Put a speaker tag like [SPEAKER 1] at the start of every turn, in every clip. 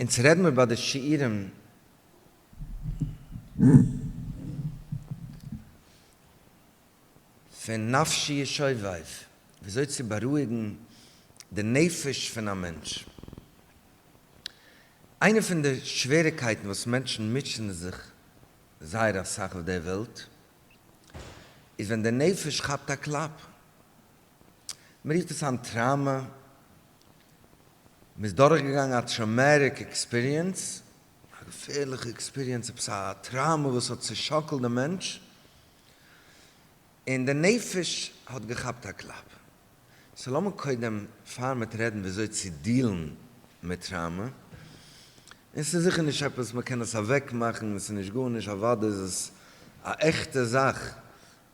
[SPEAKER 1] אונז רעד מיר ביי די שיעורים פון נפשי ישובב, וויאזוי צו בארואיגן די נפש פון א מענטש. איינע פון די שוועריקייטן וואס מענטשן מוטשען זיך זייער אסאך אויף דער וועלט, איז ווען די נפש כאפט א קלאפ, מען רופט עס היינט טראומא, מען איז דורכגעגאנגען א טראומעטיק עקספיריענס, א געפערליכע עקספיריענס, עפעס א טראומא וואס האט צעשאקלט דעם מענטש, און די נפש האט געכאפט א קלאפ. סאו לאמיר קודם פאר מיט רעדן וויאזוי צו דיעלן מיט טראומא, און עס איז זיכער נישט עפעס מען קען עס אוועקמאכן, עס איז נישט גארנישט, אוודאי איז עס א עכטע זאך,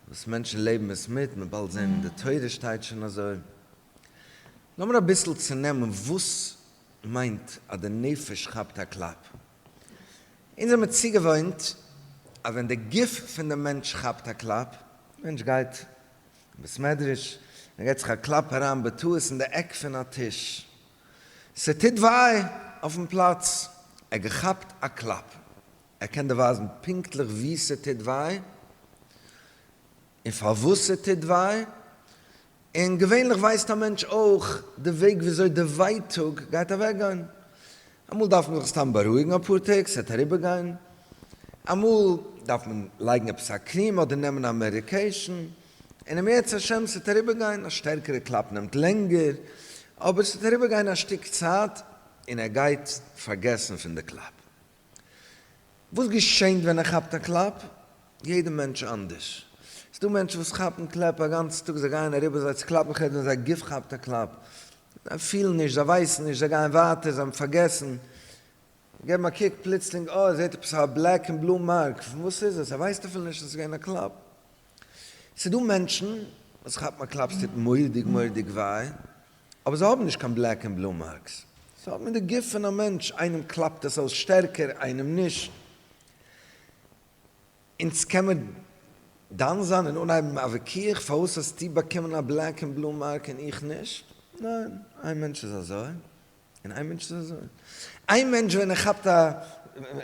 [SPEAKER 1] וואס מענטשן לעבן עס מיט, מען באלד זען אין די תורה שטייט שוין אזוי. לאמיר אביסל צונעמען וואס מיינט אז די נפש כאפט א קלאפ. אונז זעמיר צוגעוואוינט אז ווען די גוף פון די מענטש כאפט א קלאפ, מענטש גייט אין בית מדרש, ער געט זיך א קלאפ אריין בטעות אין די עק פון א טיש, ס'טוט וויי אויפן פלאץ, ער געכאפט א קלאפ. ער קען דיר ווייזן פונקטליך וואו ס'טוט וויי, און פארוואס ס'טוט וויי, און געווענליך ווייסט א מענטש אויך די וועג וויאזוי די ווייטאג גייט אוועקגיין. אמאל דארף מען זיך סתם בארואיגן אפאר טעג, ס'וועט אריבערגיין, אמאל דארף מען לייגן עפעס א קריעם אדער נעמען א מעדיקעישן, און אם ירצה השם ס'וועט אריבערגיין, א שטערקערע קלאפ נעמט לענגער, אבער ס'וועט אריבערגיין א שטיק צייט און ער גייט פארגעסן פון די קלאפ. וואס געשענט ווען ער כאפט א קלאפ? יעדע מענטש אנדערש. ס'איז דא מענטשן וואס כאפן קלעפ א גאנצן טאג, זיי גייען אריבער זיי צו קלאפן כעת ווען זייער גוף כאפט א קלאפ. זיי פילן נישט, זיי ווייסן נישט, זיי גייען ווייטער, זיי האבן פארגעסן. זיי געבן א קוק פלוצלינג אוי, ער זעט עפעס א בלעק און בלוי מארק, פון וואס איז עס? ער ווייסט אפילו נישט אז ס'איז געווען א קלאפ. ס'איז דא מענטשן וואס כאפן א קלאפ ס'טוט מורא'דיג מורא'דיג וויי, אבער זיי האבן נישט קיין בלעק ענד בלו מארקס, זיי האבן אין די גוף פון א מענטש, איינעם קלאפט עס אויס שטערקער איינעם נישט, אונז קען מען דן זיין און אנהייבן א וויכוח פארוואס האסטו באקומען א בלעק ענד בלו מארק און איך נישט, ניין, איין מענטש איז אזוי און איין מענטש איז אזוי, איין מענטש ווען ער כאפט א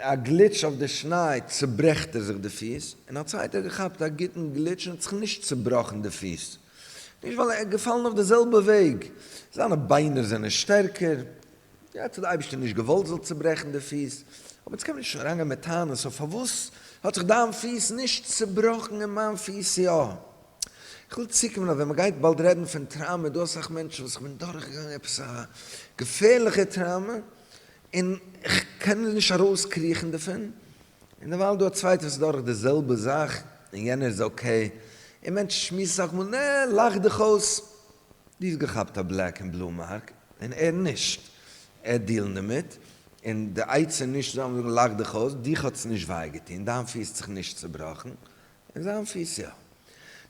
[SPEAKER 1] א גליטש אויף די שניי צוברעכט ער זיך די פיס, און א צווייטער האט געכאפט א גוטן גליטש און האט זיך נישט צובראכן די פיס, נישט ווייל ער איז געפאלן אויף די זעלבע וועג, זיינע ביינער זענען שטערקער, יעצט האט די אייבערשטער נישט געוואלט זאל צוברעכן די פיס, אבער יעצט קען מען נישט אריינגיין מיט טענות אויף פארוואס האט זיך דיין פיס נישט צובראכן און מיין פיס יא. איך וויל צוקומען אז ווען מען גייט באלד רעדן פון טראומע איז דא אסאך מענטשן וואס איך בין דורכגעגאנגען עפעס א געפערליכע טראומע און איך קען נישט ארויסקריכן דערפון, און דערווייל דא א צווייטע וואס איז דורך די זעלבע זאך און יענער איז אקעי, און מענטשן שמועסן סאך מאל, נע, לאך דיך אויס, דו האסט געכאפט א בלעק און בלו מארק און ער נישט, ער האט דילן דערמיט, און די עצה נישט צו זאגן זאגן לאך דיך אויס, דיך האט עס נישט וויי געטון, דיין פיס האט זיך נישט צובראכן, און זיין פיס יא.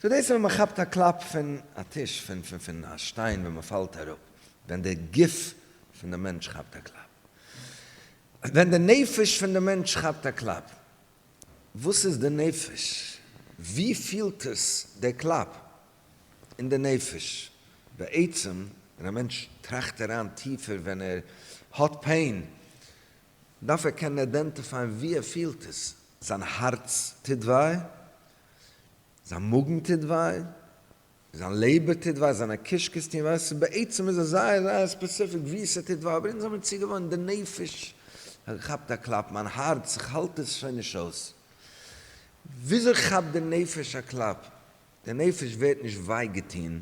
[SPEAKER 1] סאו דאס איז ווען מען כאפט א קלאפ פון א טיש, פון פון פון א שטיין ווען מען פאלט אראפ, ווען די גוף פון די מענטש כאפט א קלאפ, ווען די נפש פון די מענטש כאפט א קלאפ, וואס איז די נפש? ווי פילט עס די קלאפ? אין די נפש? בעצם ווען א מענטש טראכט אריין טיפער ווען ער האט פעין, דארף ער קענען איידענטיפייען ווי ער פילט עס. זיין הארץ טוט וויי? זיין מאגן טוט וויי? זיין לעבער טוט וויי, זיינע קישקעס טוהן וויי, ס'איז בעצם איז עס זייער זייער ספעסיפיק וואו ס'טוט וויי, אבער אונז האמיר צוגעוואוינט די נפש כאפט א קלאפ, מיין הארץ איך האלט עס שוין נישט אויס, וויאזוי כאפט די נפש א קלאפ? די נפש ווערט נישט וויי געטוהן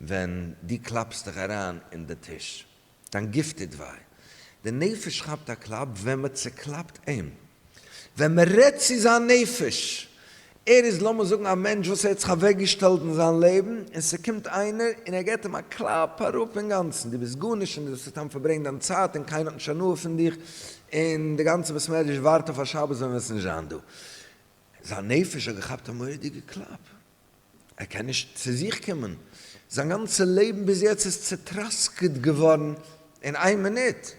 [SPEAKER 1] ווען דו קלאפסט דיך אריין אין די טיש. דיין גוף טוט וויי. די נפש כאפט א קלאפ ווען מען צעקלאפט אים. ווען מען רעדט צו זיין נפש. ער איז לאמיר זאגן א מענטש וואס ער האט זיך אוועקגעשטעלט אין זיין לעבן, און ס'קומט איינער און ער געט אים א קלאפ אראפ אינגאנצן. דו ביסט גארנישט און דו זאלסט סתם פארברענגען דיין צייט און קיינער האט נישט הנאה פון דיך, און די גאנצע בית מדרש ווארט אויף א שבת ווען וועסט נישט זיין דא. זיין נפש האט געכאפט א מורא'דיגע קלאפ. ער קען נישט צו זיך קומען, זיין גאנצע לעבן ביז יעצט איז צוטראסקעט געווארן אין איין מינוט,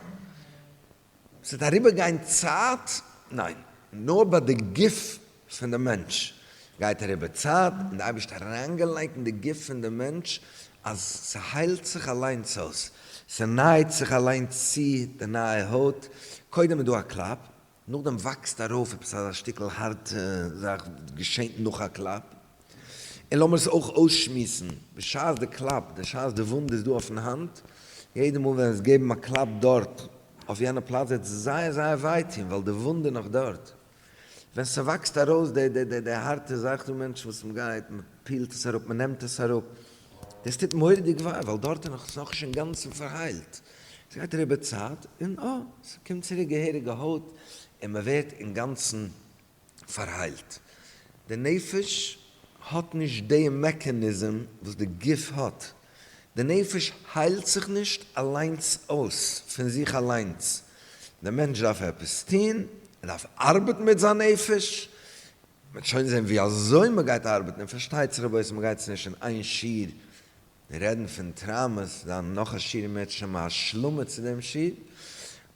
[SPEAKER 1] ס'וועט אריבערגיין צייט, ניין, נאר ביי די גוף פון די מענטש גייט אריבער צייט, און די אייבערשטער האט אריינגעלייגט אין די גוף פון די מענטש אז ס'היילט זיך אליינס אויס, ס'נייעט זיך אליינס צו די נייע הויט, קודם איז דא א קלאפ, נאכדעם וואקסט ארויף עפעס אזא שטיקל הארטע זאך וואס געשעהט נאך א קלאפ, און לאמיר עס אויך אויסשמועסן, בשעת די קלאפ, בשעת די וואונד איז דא אויפן האנט, יעדע מאל ווען עס געבן א קלאפ דארט אויף יענע פלאץ וועט עס זייער זייער וויי טוהן ווייל די וואונד איז נאך דארט, ווען ס'וואקסט ארויס די די די די הארטע זאך, ס'דא מענטשן וואס מ'גייט מ'פילט עס אראפ מ'נעמט עס אראפ, דאס טוט מורא'דיג וויי ווייל דארט איז נאך, ס'נאך נישט אינגאנצן פארהיילט. ס'גייט אריבער צייט און אה, ס'קומט צוריק געהעריגע הויט און מ'ווערט אינגאנצן פארהיילט. די נפש האט נישט די מעקאניזם וואס די גוף האט. די נפש היילט זיך נישט אליינס אויס פון זיך אליינס. דער מענטש דארף עפעס טון, ער דארף ארבעטן מיט זיין נפש. מ'וועט שוין זען ווי אזוי מ'גייט ארבעטן און פארשטייט זיך רבותי מ'גייט עס נישט אין איין שיעור מיר רעדן פון טראמאס, זיין נאך א שיעור און מען האט שוין א השלמה צו דעם שיעור,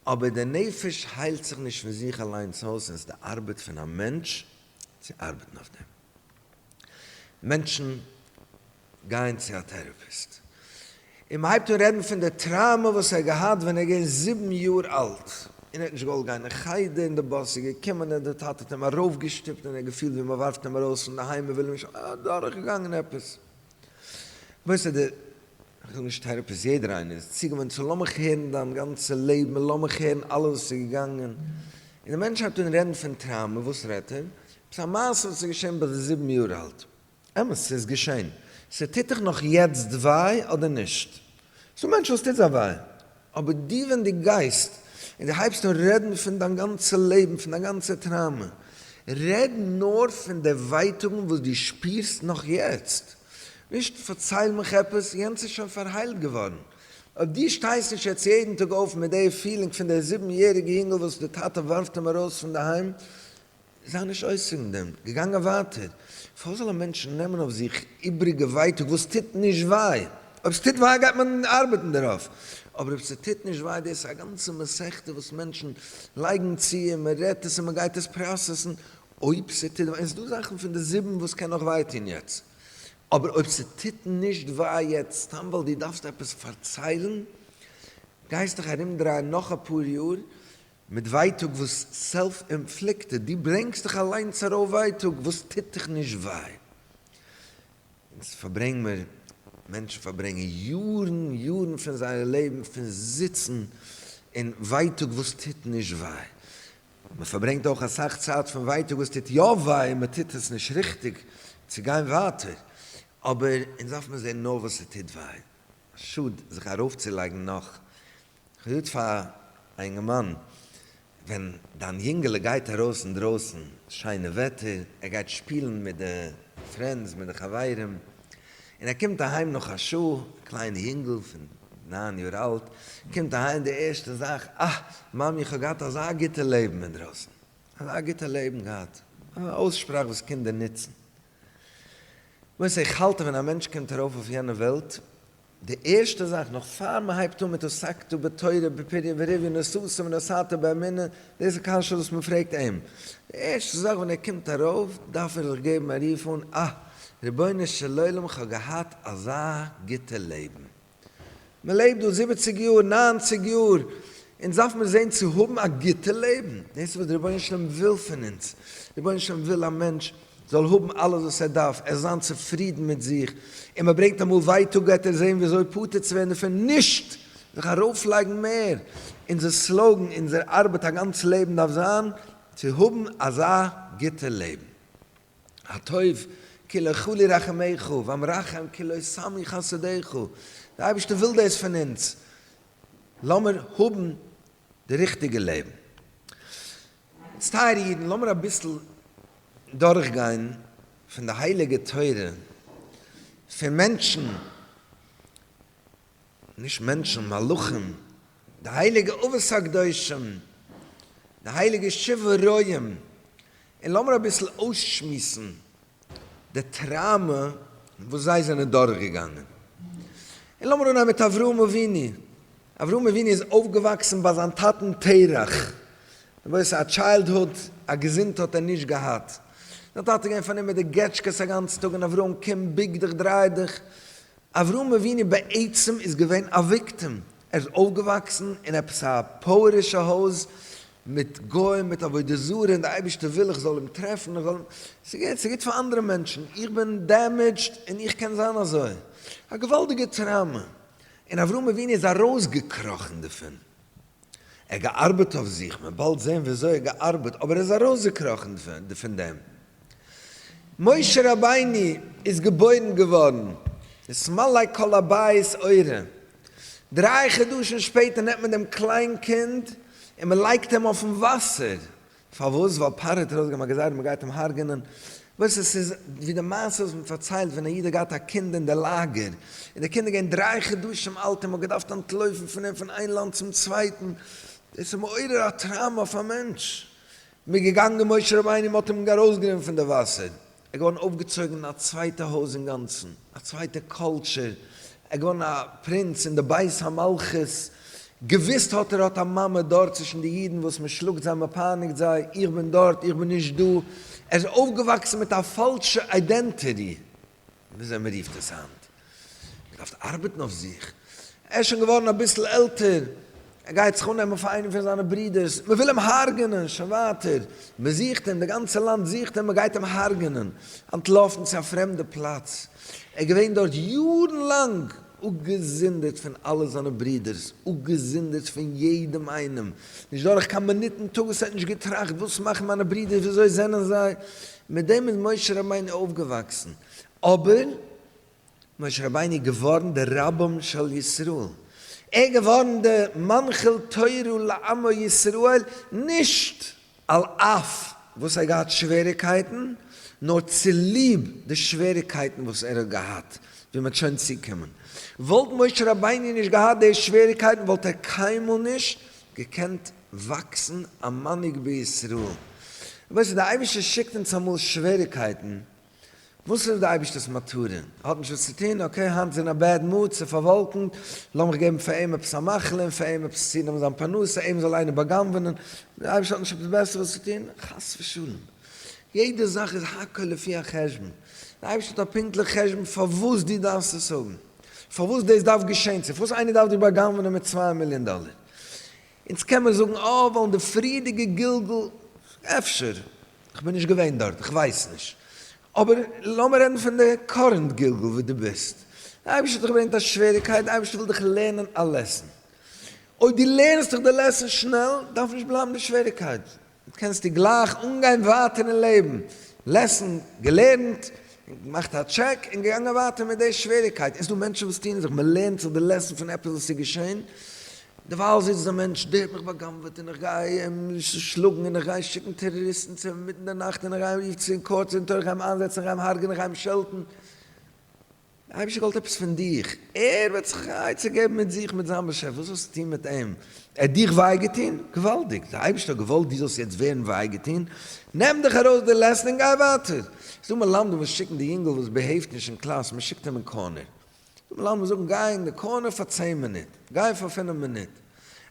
[SPEAKER 1] אבער די נפש היילט זיך נישט פון זיך אליינס אויס און עס איז די ארבעט פון א מענטש צו ארבעטן אויף דעם. מענטשן גייען צו א טעראפיסט און מען הייבט אן רעדן פון די טראמא וואס ער האט געהאט ווען ער איז געווען זיבן יאר אלט און ער האט נישט געוואלט גיין אין חדר און די באס איז געקומען און די טאטע האט אים ארויפגעשטופט און ער האט געפילט ווי מען ווארפט אים ארויס פון די היים מען וויל אים נישט האבן, ער האט דורכגעגאנגען עפעס. ווייסט אדער איך וויל נישט טעראפיס יעדער איינער איז צוגעוואוינט צו לאמיך הערן דיין גאנצע לעבן און לאמיך הערן אלעס וואס איז געגאנגען און דער מענטש הייבט אן רעדן פון טראומע וואס רעדט ער? עפעס א מעשה וואס איז געשען ביי די זיבן יאר אלט? אמת ס'איז געשען. ס'טוט דיך נאך יעצט וויי אדער נישט? ס'דא מענטשן וואס טוט זיי וויי. אבער דו ווען דו גייסט און דו הייבסט אן רעדן פון דיין גאנצע לעבן, פון דיין גאנצע טראומע, רעד נאר פון די ווייטאגן וואס דו שפירסט נאך יעצט, נישט פארצייל מיך עפעס, יענץ איז שוין פארהיילט געווארן. אויב דו שטייסט נישט יעצט יעדן טאג אויף מיט די פילינג פון די זיבן יעריגע יונגל וואס די טאטע ווארפט אים ארויס פון די היים, זיי נישט אויס פון דעם, געגאנגען ווייטער. פארוואס זאל א מענטש נעמען אויף זיך איבריגע ווייטאג וואס טוט נישט וויי? אויב ס'טוט וויי גייט מען ארבעטן דערויף, אבער אויב ס'טוט נישט וויי, דאס איז א גאנצע מסכתא וואס מענטשן לייגן צו און מען רעדט עס און מען גייט עס פראסעסן, אויב ס'טוט וויי, און ס'דא זאכן פון די זיבן וואס קען נאך וויי טון יעצט, אבער אויב ס'טוט נישט וויי יעצט סתם ווייל דו דארפסט עפעס פארציילן, גייסטעך ארומדרייען נאך אפאר יאר, מיט ווייטאג וואס סעלף אינפליקטעד, דו ברענגסט דיך אליינס ארויף ווייטאג וואס טוט דיך נישט וויי. אונז פארברענגן מיר, מענטשן פארברענגן יארן יארן פון זייער לעבן פון זיצן אין ווייטאג וואס טוט נישט וויי. מען פארברענגט אויך אסאך צייט פון ווייטאג וואס טוט יא וויי און מען טוט עס נישט ריכטיג צו גיין ווייטער. אבער אונז דארף מיר זען נאר וואס ס'טוט וויי. שאד זיך ארויפצולייגן נאך כ'זאג פאר א אינגערמאן, ווען דיין יונגעלע גייט ארויס אינדרויסן, שיינע וועטער, ער גייט שפילן מיט די פרענדס, מיט די חברים, און ער קומט אהיים נאך א שעה, א קליינע יונגעל פון נײַן יאר אלט, קומט אהיים די ערשטע זאך, אה, מאמי איך האב געהאט אזא גוטע לעבן אינדרויסן, אזא גוטע לעבן געהאט, א אויסשפראך וואס קינדער נוצן. למעשה איך האלט אז ווען א מענטש קומט ארויף אויף יענע וועלט, די ערשטע זאך נאך פאר מען הייבט אן מיט עסקתו בתורה בפריה ורביה נסעתו ונסעתו באמונה, דאס איז קשיא וואס מען פרעגט אים, די ערשטע זאך ווען ער קומט ארויף דארף ער זיך געבן א רוף אן, אה, רבונו של עולם איך האב געהאט אזא גוטע לעבן, מען לעבט דא זיבעציג יאר, ניינציג יאר, אונז דארף מיר זען צו האבן א גוטע לעבן, דאס איז וואס דער רבונו של עולם וויל פון אונז, רבונו של עולם וויל א מענטש, זאל האבן אלעס וואס ער דארף, ער זאל זיין צופרידן מיט זיך, און מען ברענגט אמאל ווייטאג וועט ער זען ווי אזוי פטור צו ווערן דערפון, נישט זיך ארויפלייגן מער. אונזער סלאגאן, אונזער ארבעט א גאנץ לעבן דארף זיין, צו האבן אזא גוטע לעבן. הטוב כי לא כלו רחמיך, והמרחם כי לא סמי חסדיך, דער אייבערשטער וויל דאס פון אונז, לאמיר האבן די ריכטיגע לעבן. איצט טייערע אידן לאמיר אביסל דורך גיין פון די הייליגע תורה פון מענטשן, נישט מענטשן, מלאכים, די הייליגע אבות הקדושים, די הייליגע שבעה רועים, און לאמיר אביסל אויסשמועסן די טראמע וואס זיי זענען דורך געגאנגען. און לאמיר אנהייבן מיט אברהם אבינו. אברהם אבינו איז אויפגעוואקסן ביי זיין טאטן תרח, למעשה א טשיילדהוד, א געזונט האט ער נישט געהאט, זיין טאטע איז געווען פארנומען מיט די געטשקעס א גאנצן טאג און אברהם קום בוג דיך דריי דיך, אברהם אבינו בעצם איז געווען א וויקטים, ער איז אויפגעוואקסן אין עפעס א פויערישע הויז מיט גוים מיט עבודה זרה און די אייבערשטער וויל איך זאל אים טרעפן איך זאל אים, ס'איז גוט פאר אנדערע מענטשן, איך בין דעמעדזשד און איך קען זיין אזוי, א געוואלדיגע טראומע, און אברהם אבינו איז ארויסגעקראכן דערפון, ער האט געארבעט אויף זיך, מען וועט באלד זען ווי אזוי ער האט געארבעט, אבער ער איז ארויסגעקראכן פון דעם. משה רבינו איז געבוירן געווארן, עס מלא כל הבית אורה, דריי חדשים שפעטער נעמט מען דעם קליין קינד און מען לייגט אים אויפן וואסער, פארוואס? ווייל פרעה האט ארויסגעגעבן א גזירה מען גייט אים הרג'ענען. ווייסט עס איז ווי די מעשה וואס מען פארציילט ווען א איד האט געהאט א קינד אין די לאגער און די קינד איז געווען דריי חדשים אלט און מען האט געדארפט אנטלויפן פון אים פון איין לאנד צום צווייטן. דאס איז מעורר א טראומא אויף א מענטש. מען איז געגאנגען משה רבינו מען האט אים ארויסגענומען פון די וואסער ער געווארן אויפגעצויגן אין א צווייטע הויז אינגאנצן, א צווייטע קולטשור, ער געווארן א פרינץ אין די בית המלכות, געוויסט האט ער האט א מאמע דארט צווישן די אידן וואס מען שלאגט זיי מען פייניגט זיי, איך בין דארט איך בין נישט דא, ער איז אויפגעוואקסן מיט א פאלשע איידענטעטי, וויאזוי מען רופט עס היינט, מען דארף ארבעטן אויף זיך, ער איז שוין געווארן אביסל עלטער, ער גייט זיך אננעמען פאר איינעם פון זיינע ברודערס, מען וויל אים הרג'נען, שוין ווייטער, מען זוכט אים, די גאנצע לאנד זוכט אים, מען גייט אים הרג'נען, אנטלאפן צו א פרעמדע פלאץ, ער איז געווען דארט יארן לאנג, אפגעזונדערט פון אלע זיינע ברודערס, אפגעזונדערט פון יעדעם איינעם, נישט דורך קיין מינוט אין טאג וואס ער האט נישט געטראכט, וואס מאכן מיינע ברודערס, ווי אזוי זענען זיי, מיט דעם איז משה רבינו אויפגעוואקסן, אבער משה רבינו איז געווארן דער רבם של ישראל, ער איז געווארן דער מנחיל תורה לעמו ישראל, נישט על אף וואס ער האט געהאט שוועריקייטן, נאר צוליב די שוועריקייטן וואס ער האט געהאט, ווי מען וועט שוין צוקומען. וואלט משה רבינו נישט געהאט די שוועריקייטן וואלט ער קיינמאל נישט געקענט וואקסן א מנהיג בישראל. רבותי, דער אייבערשטער שיקט אונז אמאל שוועריקייטן וואס איז די אייבישטערס מטרה? ער האט נישט וואס צו טון? אקעי, היינט איז אין א בעד מוד, ס'איז פארוואלקענט, לאמיך געבן פאר אים עפעס א מאכל און פאר אים עפעס צונעמען זיין פרנסה, אים זאל איינער בא'גנב'ענען, דער אייבישטער האט נישט עפעס בעסערס צו טון? חס ושלום! יעדע זאך איז הכל לפי החשבון, דער אייבישטער האט א פונקטליכע חשבון פארוואס דו דארפסט עס האבן, פארוואס דאס דארף געשען, צו פארוואס איינער דארף דיר בא'גנב'ענען מיט צוויי מיליאן דאלער, אונז קען מען זאגן אה ווייל אין די פריערדיגע גלגול, אפשר, כ'בין נישט געווען דארט, כ'ווייס נישט, אבער לאמיר רעדן פון די קארענט גלגול וואו דו ביסט, די אייבערשטער האט דיך געברענגט א שוועריגקייט, די אייבערשטער וויל דיך לערנען א לעסן, אויב דו לערנסט דיך די לעסן שנעל, דארף נישט בלייבן די שוועריגקייט, יעצט קענסטו גלייך אנגיין ווייטער אין לעבן, לעסן געלערנט, געמאכט א טשעק און געגאנגען ווייטער מיט די שוועריקייט, עס איז דא מענטשן וואס טוען זיך, מען לערנט זיך די לעסן פון עפעס וואס איז געשען, דערווייל זיצט דער מענטש, דער האט מיך בא'גנב'עט און איך גיי אים שלאגן און איך גיי שיקן טעראריסטן צו אים אינמיטן די נאכט און איך גיי אים רופן צו אין קאורט און טאריך גיי אים איינזעצן איך גיי אים הרג'ענען איך גיי אים שעלטן, דער אייבערשטער וויל עפעס פון דיך, ער וועט זיך א עצה געבן מיט זיך מיט זיין באשעפער, וואס וועסטו טון מיט אים? ער האט דיך וויי געטון? געוואלדיג, דער אייבערשטער האט געוואלט דו זאלסט יעצט ווערן וויי געטון, נעם דיך ארויס די לעסן און גיי ווייטער. ס'איז דא מלמדים וואס שיקן די יונגל וואס בעהעיווט נישט אין קלאס, מען שיקט אים אין קארנער. ס'איז דא מלמדים וואס זאגן גיי אין די קארנער פאר צען מינוט, גיי פאר פינף מינוט.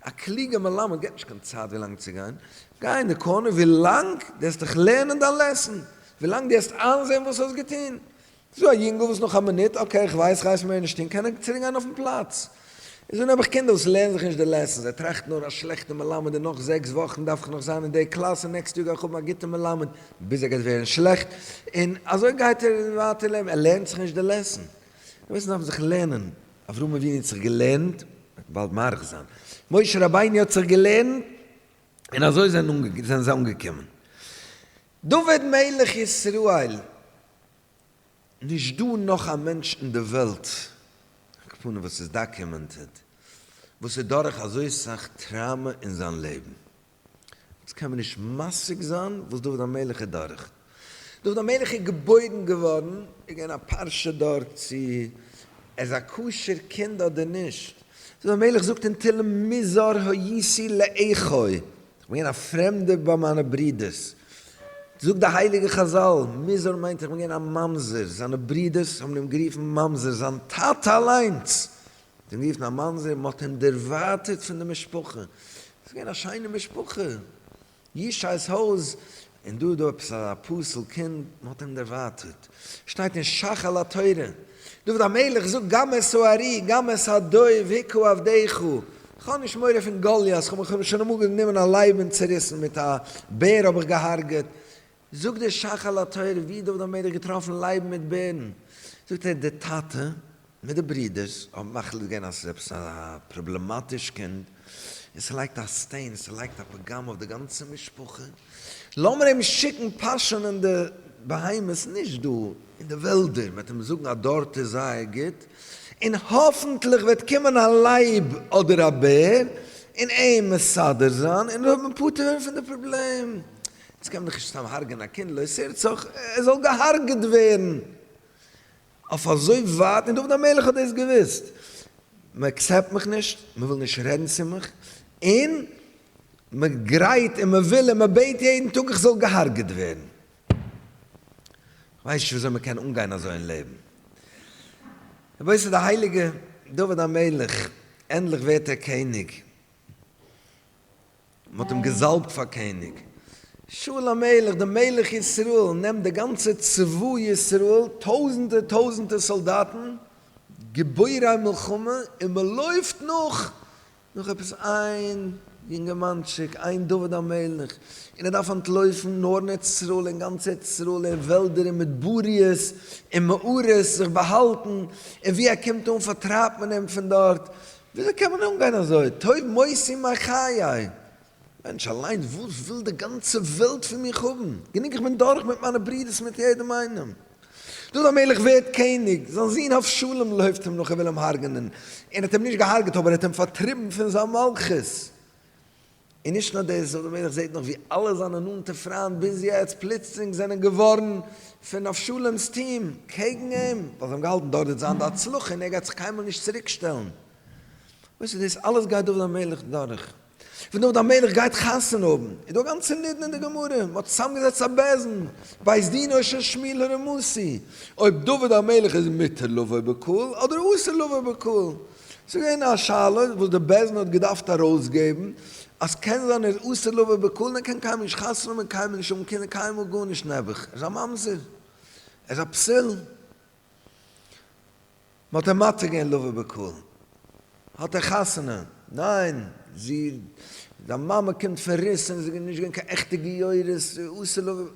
[SPEAKER 1] א קלוגער מלמד געבט נישט קיין צייט ווילאנג צו גיין, גיי אין די קארנער ווילאנג דו העסט דיך לערנען דיין לעסן, ווילאנג דו העסט איינזען וואס האסט געטון, זאָ אַ ייִנגל, װאָס נאָך אַ מינוט, אָקעי, איך װײס, רײַסט מער נישט אָן, קען ער צוריקגײן אױפֿן פּלאַץ. איז אָן האָב איך קינדער, װאָס לערנען זיך נישט די לעסענס. זײ טראַכטן נאָר, אַ שלעכטער מלמד, און נאָך זעקס װאָכן דאַרף איך נאָך זײַן אין דער קלאַס, און נעקסט יאָר גײ איך האָבן אַ גוטער מלמד, ביז ער גײט װערן שלעכט, און אַזױ גײט ער װײַטער לעבן. ער לערנט זיך נישט די לעסען. די מענטשן דאַרפֿן זיך לערנען. אַבֿרהם אַבֿינו האָט זיך געלערנט, ער װעט באַלד מאַריך זײַן. משה רבינו האָט זיך געלערנט, און אַזױ זענען זײ אָנגעקומען. דוד מלך ישראל, נישט דא נאך א מענטש אין די וועלט, אקעפארנע וואס איז דאקומענטעד, וואס איז דורך אזוי סאך טראמא אין זיין לעבן. אונז קען מיר נישט משיג זיין וואס דוד המלך איז דורך. דוד המלך איז געבוירן געווארן, איז געווען א פרשה דארט צו ער איז א כשר קינד אדער נישט. דוד המלך זאגט אין תהלים מי זרעו יישא לאחיו. כ'בין א פרעמדער ביי מיינע ברידערס, זאגט די הייליגע חזל, מוזר מיינט איך בין געווען א ממזר, זיינע ברידערס האבן אים גערופן ממזר, זיין טאטע אליינס האט אים גערופן א ממזר, מ'האט אים דערווייטערט פון די משפחה, ס'איז געווען א שיינע משפחה, ישעי'ס הויז און דא איז דא עפעס א פסול קינד, מען האט אים דערווייטערט, שטייט אין שך על התורה, דוד המלך זאגט גם את סוהרי גם את הדוב היכו עבדיך, כ'האב נישט מורא פון גוליית, כ'האב מיך שוין אמאל גענומען א לייב און צעריסן, מיט א בער האב איך געהארגעט, זאגט דער שך על התורה, ווי האט דוד המלך געטראפן לייבן מיט בערן, זאגט ער די טאטע מיט די ברידערס האבן מחליט געווען אז ס'איז עפעס א פראבלעמאטיש קינד און ס'לייגט א סטעין ס'לייגט א פגם אויף די גאנצע משפחה, לאמיר אים שיקן פאשען אין די בהמות נישט דא אין די וועלדער מ'עט אים זאגן אז דארט איז זייער גוט און האפנטליך וועט קומען א לייב אדער א בער און אים מסדר זיין און אזוי וועט מען פטור ווערן פון די פראבלעם, יעצט קען מען דאך נישט סתם הרג'ען א קינד לא עשה רצח ער זאל געהארגעט ווערן אויף אזוי ווייט און דוד המלך האט דאס געוואוסט, מען עקסעפט מיך נישט, מען וויל נישט רעדן צו מיך, און מען גרייט און מען וויל און מען בעט יעדן טאג איך זאל געהארגעט ווערן. כ'ווייס נישט וויאזוי מען קען אנגיין אזוי אין לעבן. רבותי ס'איז די הייליגע דוד המלך, ענדליך ווערט ער קעניג. מען האט אים געזאלבט פאר קעניג, שאול המלך דער מלך ישראל נעמט די גאנצע צבא ישראל, טויזענטער טויזענטער סאלדאטן, גיבורי מלחמה, און מען לויפט נאך נאך עפעס איין יונגערמאנטשיק, איין דוד המלך, און ער דארף אנטלויפן נאר אין ארץ ישראל, אין גאנץ ארץ ישראל, אין וועלדער, אין מדבריות, אין מערות זיך באהאלטן, און ווי ער קומט אן פארטרייבט מען אים פון דארט, וויאזוי קען מען אנגיין אזוי? טוב מאוס ימי חיי! מענטש אליין, וואס וויל די גאנצע וועלט פון מיך האבן? גענוג איך בין דורך מיט מיינע ברודערס מיט יעדעם איינעם. דוד המלך ווערט קעניג, זיין זון אבשלום לויפט אים נאך און וויל אים הרג'נען, און האט אים נישט געהארגעט אבער ער האט אים פארטריבן פון זיין מלכות. און נישט נאר דאס, ר' מלך זעהט נאך ווי אלע זיינע נאנטע פריינט ביז יעצט פלוצלינג זענען געווארן פון אבשלום'ס טיעם קעגן אים, ווייל זיי האבן געהאלטן דוד וועט זיין די הצלחה און ער גייט זיך קיינמאל נישט צוריק שטעלן. וואס איז דאס אלעס גייט דוד המלך דורך? ווען דוד המלך גייט חתונה האבן, איז דא א גאנצע נידון אין די גמרא, מען האט צוזאמגעזעצט א בעסן בית דין אויך של שמיל הרמוסי, אויב דוד המלך איז מותר לבוא בקהל אדער אסור לבוא בקהל, ס'איז געווען א שאלה וואס די בעש ט האט געדארפט ארויסגעבן, אז קען זיין ער איז אסור לו ובכלו, ער קען קיינמאל נישט חתונה האבן, קיינמאל נישט האבן קינדער, קיינמאל גארנישט נעבעך, ער איז א ממזר, ער איז א פסול. מ'האט אים מתיר געווען לו ובכלו. האט ער חתונה? ניין, זי, זיין מאמע קומט פון רוסלאנד, ס'איז נישט געווען קיין עכטע גיורות, אסור לו ובכלו.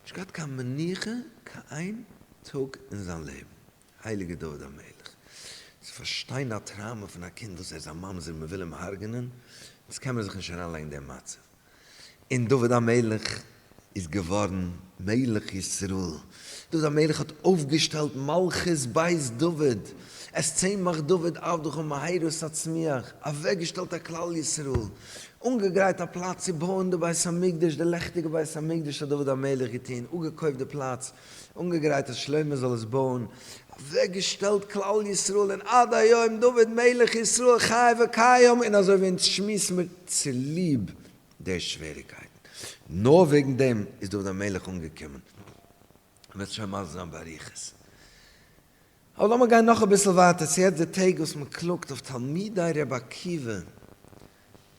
[SPEAKER 1] נישט געהאט קיין מנוחה קיין טאג אין זיין לעבן. הייליגער דוד המלך, צו פארשטיין א טראומע פון א קינד וואס ער איז א ממזר און מען וויל אים הרג'נען, אונז קען מיר זיך נישט אריין לייגן אין דעם מצב. און דוד המלך איז געווארן מלך ישראל, דוד המלך האט אויפגעשטעלט מלכות בית דוד, את צמח דוד עבדך ומהרה תצמיח, אוועק געשטעלט א כלל ישראל, אנגעגרייט א פלאץ צו בויען די בית המקדש, די לעכטיגע בית המקדש האט דוד המלך געטון, אפגעקויפט די פלאץ, אנגעגרייט אז שלמה זאל עס בויען, אוועק געשטעלט כלל ישראל, און עד היום דוד מלך ישראל חי וקיים, און אזוי ווי אונז שמועסן מיר צוליב די שוועריקייטן, נאר וועגן דעם איז דוד המלך אנגעקומען, וועסט שוין מסביר זיין באריכות. אבער לאמיר גיין נאך אביסל ווייטער צו יעצט די טעג וואס מען קלאגט אויף תלמידי רבי עקיבא,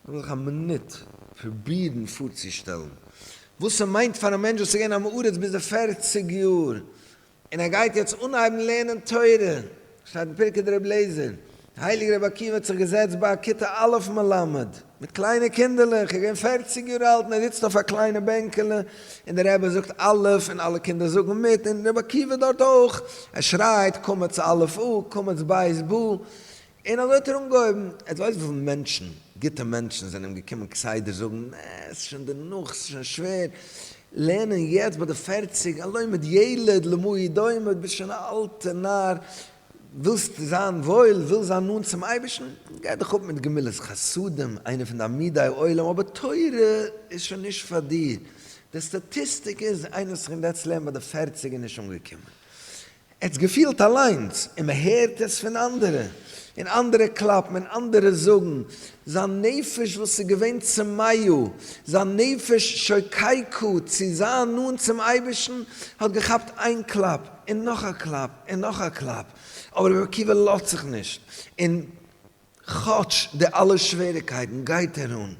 [SPEAKER 1] לאמיר זיך א מינוט פרובירן פארצושטעלן וואס ס'מיינט פאר א מענטש וואס איז געווען עם הארץ ביז די פערציג יאר און ער גייט יעצט אנהייבן לערנען תורה, שטייט אין פרקי דרבי אליעזר הייליגער רבי עקיבא האט זיך געזעצט ביי א כיתה א' מלמד מיט קליינע קינדערלעך, ער איז געווען פֿערציק יאר אלט און ער זיצט אויף א קליינע בענקעלע און דער רבי זאגט א' און אלע קינדער זאגן מיט און רבי עקיבא דארט אויך, ער שרייט קמץ א' א' קמץ ב' ב' און אזוי האט ער אנגעהויבן, עטס ווייסט וויפיל מענטשן, גוטע מענטשן זענען אים געקומען כסדר זאגן, נע, ס'איז שוין דערנאך, ס'איז שוין שווער לערנען יעצט ביי די פֿערציק, הלא מד ילד למאי דומה, דו ביסט שוין א אלטע נאר, ווילסט זיין וואויל, ווילסט זיין נאנט צום אייבערשטן, גיי דיך אפ מיט גמילות חסדים, איינע פון די עמודי עולם, אבער תורה איז שוין נישט פאר דיר. די סטאטיסטיק איז, איינער וואס קומט יעצט לערנען ביי די פערציג איז נישט אנגעקומען. עטס געפילט אליינס, און מען הערט עס פון אנדערע, און אנדערע קלאפן, און אנדערע זאגן, זיין נפש וואס איז געווען צמאה, זיין נפש שוקי כ צו זיין נאנט צום אייבערשטן, האט געכאפט איין קלאפ, און נאך א קלאפ, און נאך א קלאפ, אבער רבי עקיבא לאזט זיך נישט, און כאטש די אלע שוועריקייטן גייט ער אן,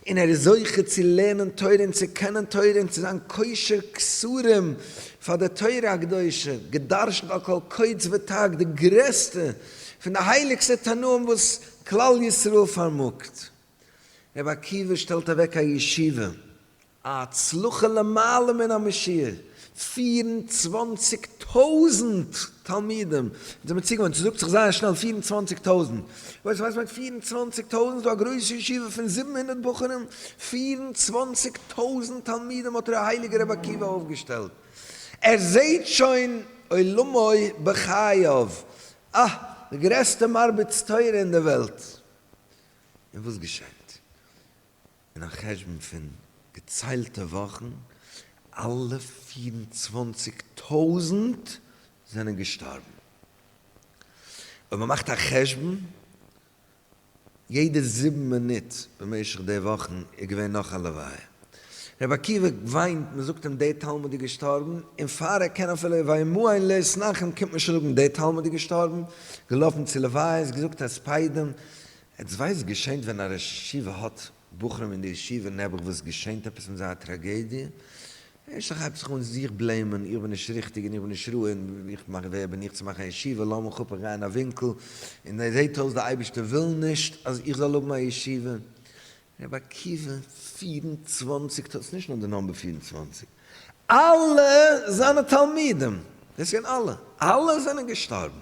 [SPEAKER 1] און ער איז זוכה צו לערנען תורה און צו קענען תורה און צו זיין קושר קשרים פאר די תורה הקדושה, גע'דרש'נט על כל קוץ ותג די גרעסטע פון די הייליגסטע תנאים וואס כלל ישראל פארמאגט. רבי עקיבא שטעלט אוועק א ישיבה א הצלחה למעלה מן המשיעור, פֿיר און צוואַנציק טויזנט תלמידים זענען מיר צוגעוואוינט, ס'זאגט זיך זייער שנעל פֿיר און צוואַנציק טויזנט, ווייסט וואס מיינט פֿיר און צוואַנציק טויזנט? ס'דא א גרויסע ישיבה פון זיבן הונדערט בחורים, פֿיר און צוואַנציק טויזנט תלמידים האט דער הייליגער רבי עקיבא אויפגעשטעלט, ער זעהט שוין עולמו בחייו, אה, די גרעסטע מרביץ תורה אין די וועלט, און וואס געשענט? אין א חשבון פון געציילטע וואכן, אלע פֿיר און צוואַנציק טויזנט זענען געשטארבן. אויב מען מאכט א חשבון, יעדע זיבן מינוט במשך די וואכן איז געווען נאך א לוויה. רבי עקיבא וויינט, מען זאגט אים דער תלמיד איז געשטארבן, און פאר ער קען אפילו ויאמרו אין לעת נחם קומט מען שוין זאגן דער תלמיד איז געשטארבן, געלאפן צו לוויות, געזאגט הספדים, עטס ווייסט געשענט ווען א ראש ישיבה האט בחורים אין די ישיבה נעבעך וואס געשענט עפעס מיט זיי א טראגעדיע ערשט איך הייב זיך אן זיך בלעימען איך בין נישט ריכטיג און איך בין נישט ראוי און איך מאך ווער בין איך צו מאכן א ישיבה לאמיך אפ איך גיי אין א ווינקל און עס זעהט אויס די אייבערשטער וויל נישט אז איך זאל האבן א ישיבה רבי עקיבא פֿיר און צוואַנציק טויזנט, נישט נאר די נאמבער פֿיר און צוואַנציק, אלע זיינע תלמידים, דאס זענען אלע, אלע זענען געשטארבן.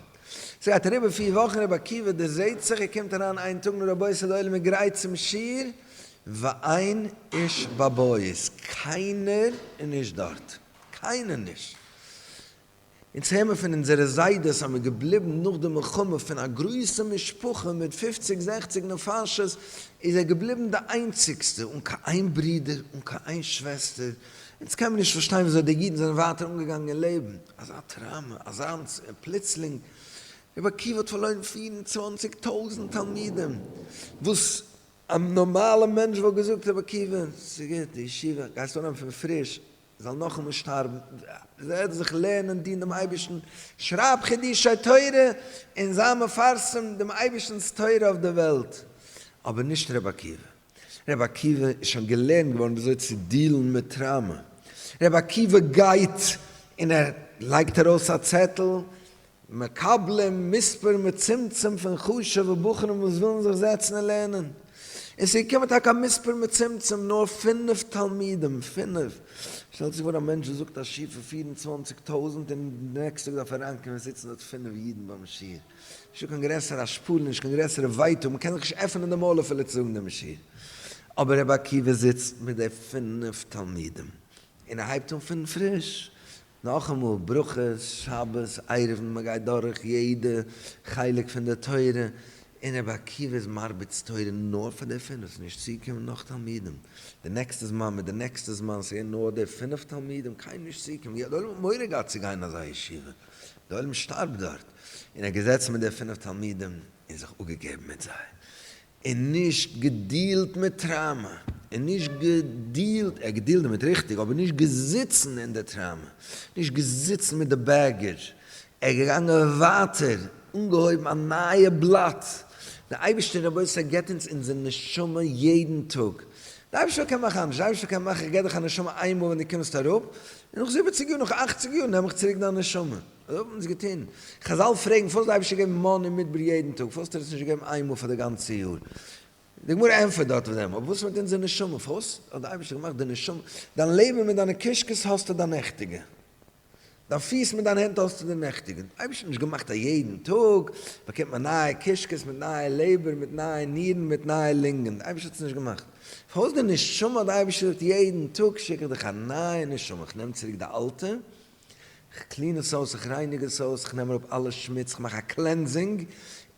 [SPEAKER 1] ס'גייט אריבער פֿיר וואכן, רבי עקיבא דערזעהט זיך, ער קומט אריין איין טאג נאר רבותי ס'איז די עולם איז גרייט צום שיעור, ואין איש בבית, קיינער איז נישט דארט, קיינער נישט. אונז הער מיר פון אונזערע זיידעס אז מען איז געבליבן נאך די מלחמה פון א גרויסע משפחה מיט פופציג זעכציג נפשות איז ער געבליבן די איינציגסטע אן קיין איין ברודער אן קיין איין שוועסטער, אונז קען מען נישט פארשטיין וויאזוי די אידן זענען ווייטער אנגעגאנגען אין לעבן, אזא טראמא, אזאנס, און פלוצלינג, רבי עקיבא האט פארלוירן פֿיר און צוואַנציק טויזענט תלמידים, וואס א נארמאלע מענטש וואלט געזאגט רבי עקיבא ס'איז גוט די ישיבה גייסט אנהייבן פון פריש, זאל נאכאמאל שטארבן, זאל ער זיך לערנען דינען דעם אייבערשטן, שרייב חידושי תורה און זיי מפרסם דעם אייבערשטנ'ס תורה אויף די וועלט, אבער נישט ר' עקיבא, ר' עקיבא איז שוין געלערנט געווארן וויאזוי צו דיעלן מיט טראמא, ר' עקיבא גייט און ער לייגט ארויס א צעטל מקבלים מספר מצומצם פון חשוב'ע בחורים וואס ווילן זיך זעצן און לערנען, און ס'איז געקומען טאקע א מספר מצומצם, נאר פינף תלמידים, פינף! שטעלט זיך פאר א מענטש וואס זאגט א שיעור פון פֿיר און צוואַנציק טויזנט און די נעקסטע טאג דארף ער אריינקומען עס זיצן דארט פינף אידן ביים שיעור, נישטא קיין גרעסערע השפלה, נישט קיין גרעסערע ווייטאג, מ'קען זיך נישט עפענען די מויל אפילו צו זאגן דעם שיעור, אבער רבי עקיבא זיצט מיט די פינף תלמידים, און ער הייבט אן פון פריש, נאכאמאל ברכות, שבת, עירובין, מען גייט דורך יעדע חלק פון די תורה, און רבי עקיבא איז מרביץ תורה נאר פאר די פינף, נישט צו קומען נאך תלמידים, די נעקסטע זמן מיט די נעקסטע זמן, ס'געווען נאר די פינף תלמידים, קיינעם נישט צוקומען, ווי האט די עולם מורא געהאט צו גיין אין אזא ישיבה, די עולם שטארבט דארט, און ער האט געזעצן מיט די פינף תלמידים און זיך אפגעגעבן מיט זיי, און נישט געדילט מיט טראמע, און נישט געדילט, ער האט געדילט דערמיט ריכטיג, אבער נישט געזיצן אין די טראמע, נישט געזיצן מיט די בעגעדזש, ער איז געגאנגען ווייטער, אנגעהויבן א נייע בלאט, די אייבערשטער רבותי געבט אונז אונזער נשמה יעדן טאג, די אייבערשטער קען מאכן אנדערש, די אייבערשטער קען מאכן איך געב דיך א נשמה איינמאל ווען די קומסט אראפ, און נאך זיבעציג יאר, נאך אכציג יאר נעם איך צוריק דיין נשמה. וואס האט מען אונז געטון? חזל פרעגן פארוואס האט דער אייבערשטער געגעבן מנה אין מדבר יעדן טאג, פארוואס האט ער עס נישט געגעבן איין מאל פאר די גאנצע יאר? די גמרא ענטפערט דארט אויף דעם, אבער וואס מיט אונזער נשמה, פארוואס האט דער אייבערשטער געמאכט די נשמה, דיין לעבן מיט דיינע קישקעס האסטו דיין נעכטיגע, דיין פיס מיט דיין הענט האסטו די נעכטיגע, דער אייבערשטער האט נישט געמאכט אז יעדן טאג באקומט מען נייע קישקעס מיט נייע לעבער מיט נייע נירן מיט נייע לונגען, דער אייבערשטער האט עס נישט געמאכט, פארוואס די נשמה האט דער אייבערשטער געזאגט יעדן טאג שיק איך דיך א נייע נשמה, איך נעם צוריק די אלטע. כ'קלין עס אויס, איך רייניג עס אויס, כ'נעם אראפ אלע שמוץ, כ'מאך א קלענסינג,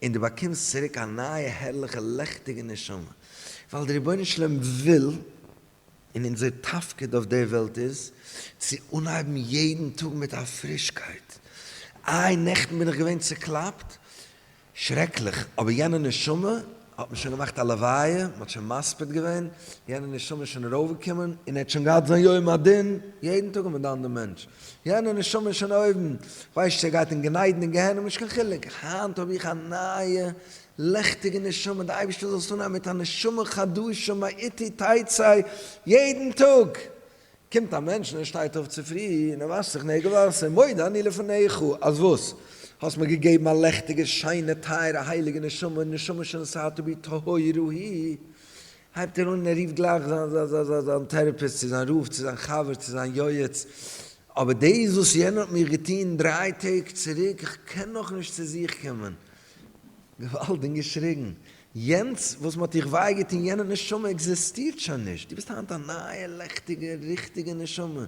[SPEAKER 1] און דו באקומסט צוריק א נייע הערליכע לעכטיגע נשמה. ווייל דער רבונו של עולם וויל, און אונזער תפקיד אויף דער וועלט איז, צו אנהייבן יעדן טאג מיט א פרישקייט. איי נעכטן בין איך געווען צוקלאפט, שרעקליך, אבער יענע נשמה האט מען שוין געמאכט א לוויה, מען האט שוין מספיד געווען, יענע נשמה איז שוין ארויפגעקומען און ער האט שוין געהאט זיין יום הדין, יעדן טאג האט מען דן דעם מענטש, יענע נשמה איז שוין אויבן, כ'ווייס נישט צו ער גייט אין גן עדן אין גיהנום נישט קיין חילוק, היינט האב איך א נייע לעכטיגע נשמה, די אייבערשטער זאל עס אנהייבן מיט א נשמה חדשה מאיתי תצא יעדן טאג, קומט א מענטש און ער שטייט אויף צופרי און ער וואשט זיך נעגל וואסער, מודה אני לפניך אז וואס? האסט מיר געגעבן א לעכטיגע שיינע טייערע הייליגע נשמה, נשמה שנשאתי בטהרה היא, הייבט ער אן און ער רופט גלייך זיין טעראפיסט צו זיין רב צו זיין חבר צו זיין יועץ, אבער דאס וואס יענער האט מיר געטון דריי טעג צוריק, איך קען נאכנישט צו זיך קומען. געוואלד און געשריגן, יענץ וואס מען האט דיך וויי געטון, יענע נשמה עקזעסטירט שוין נישט, דו ביסט היינט א נייע לעכטיגע ריכטיגע נשמה,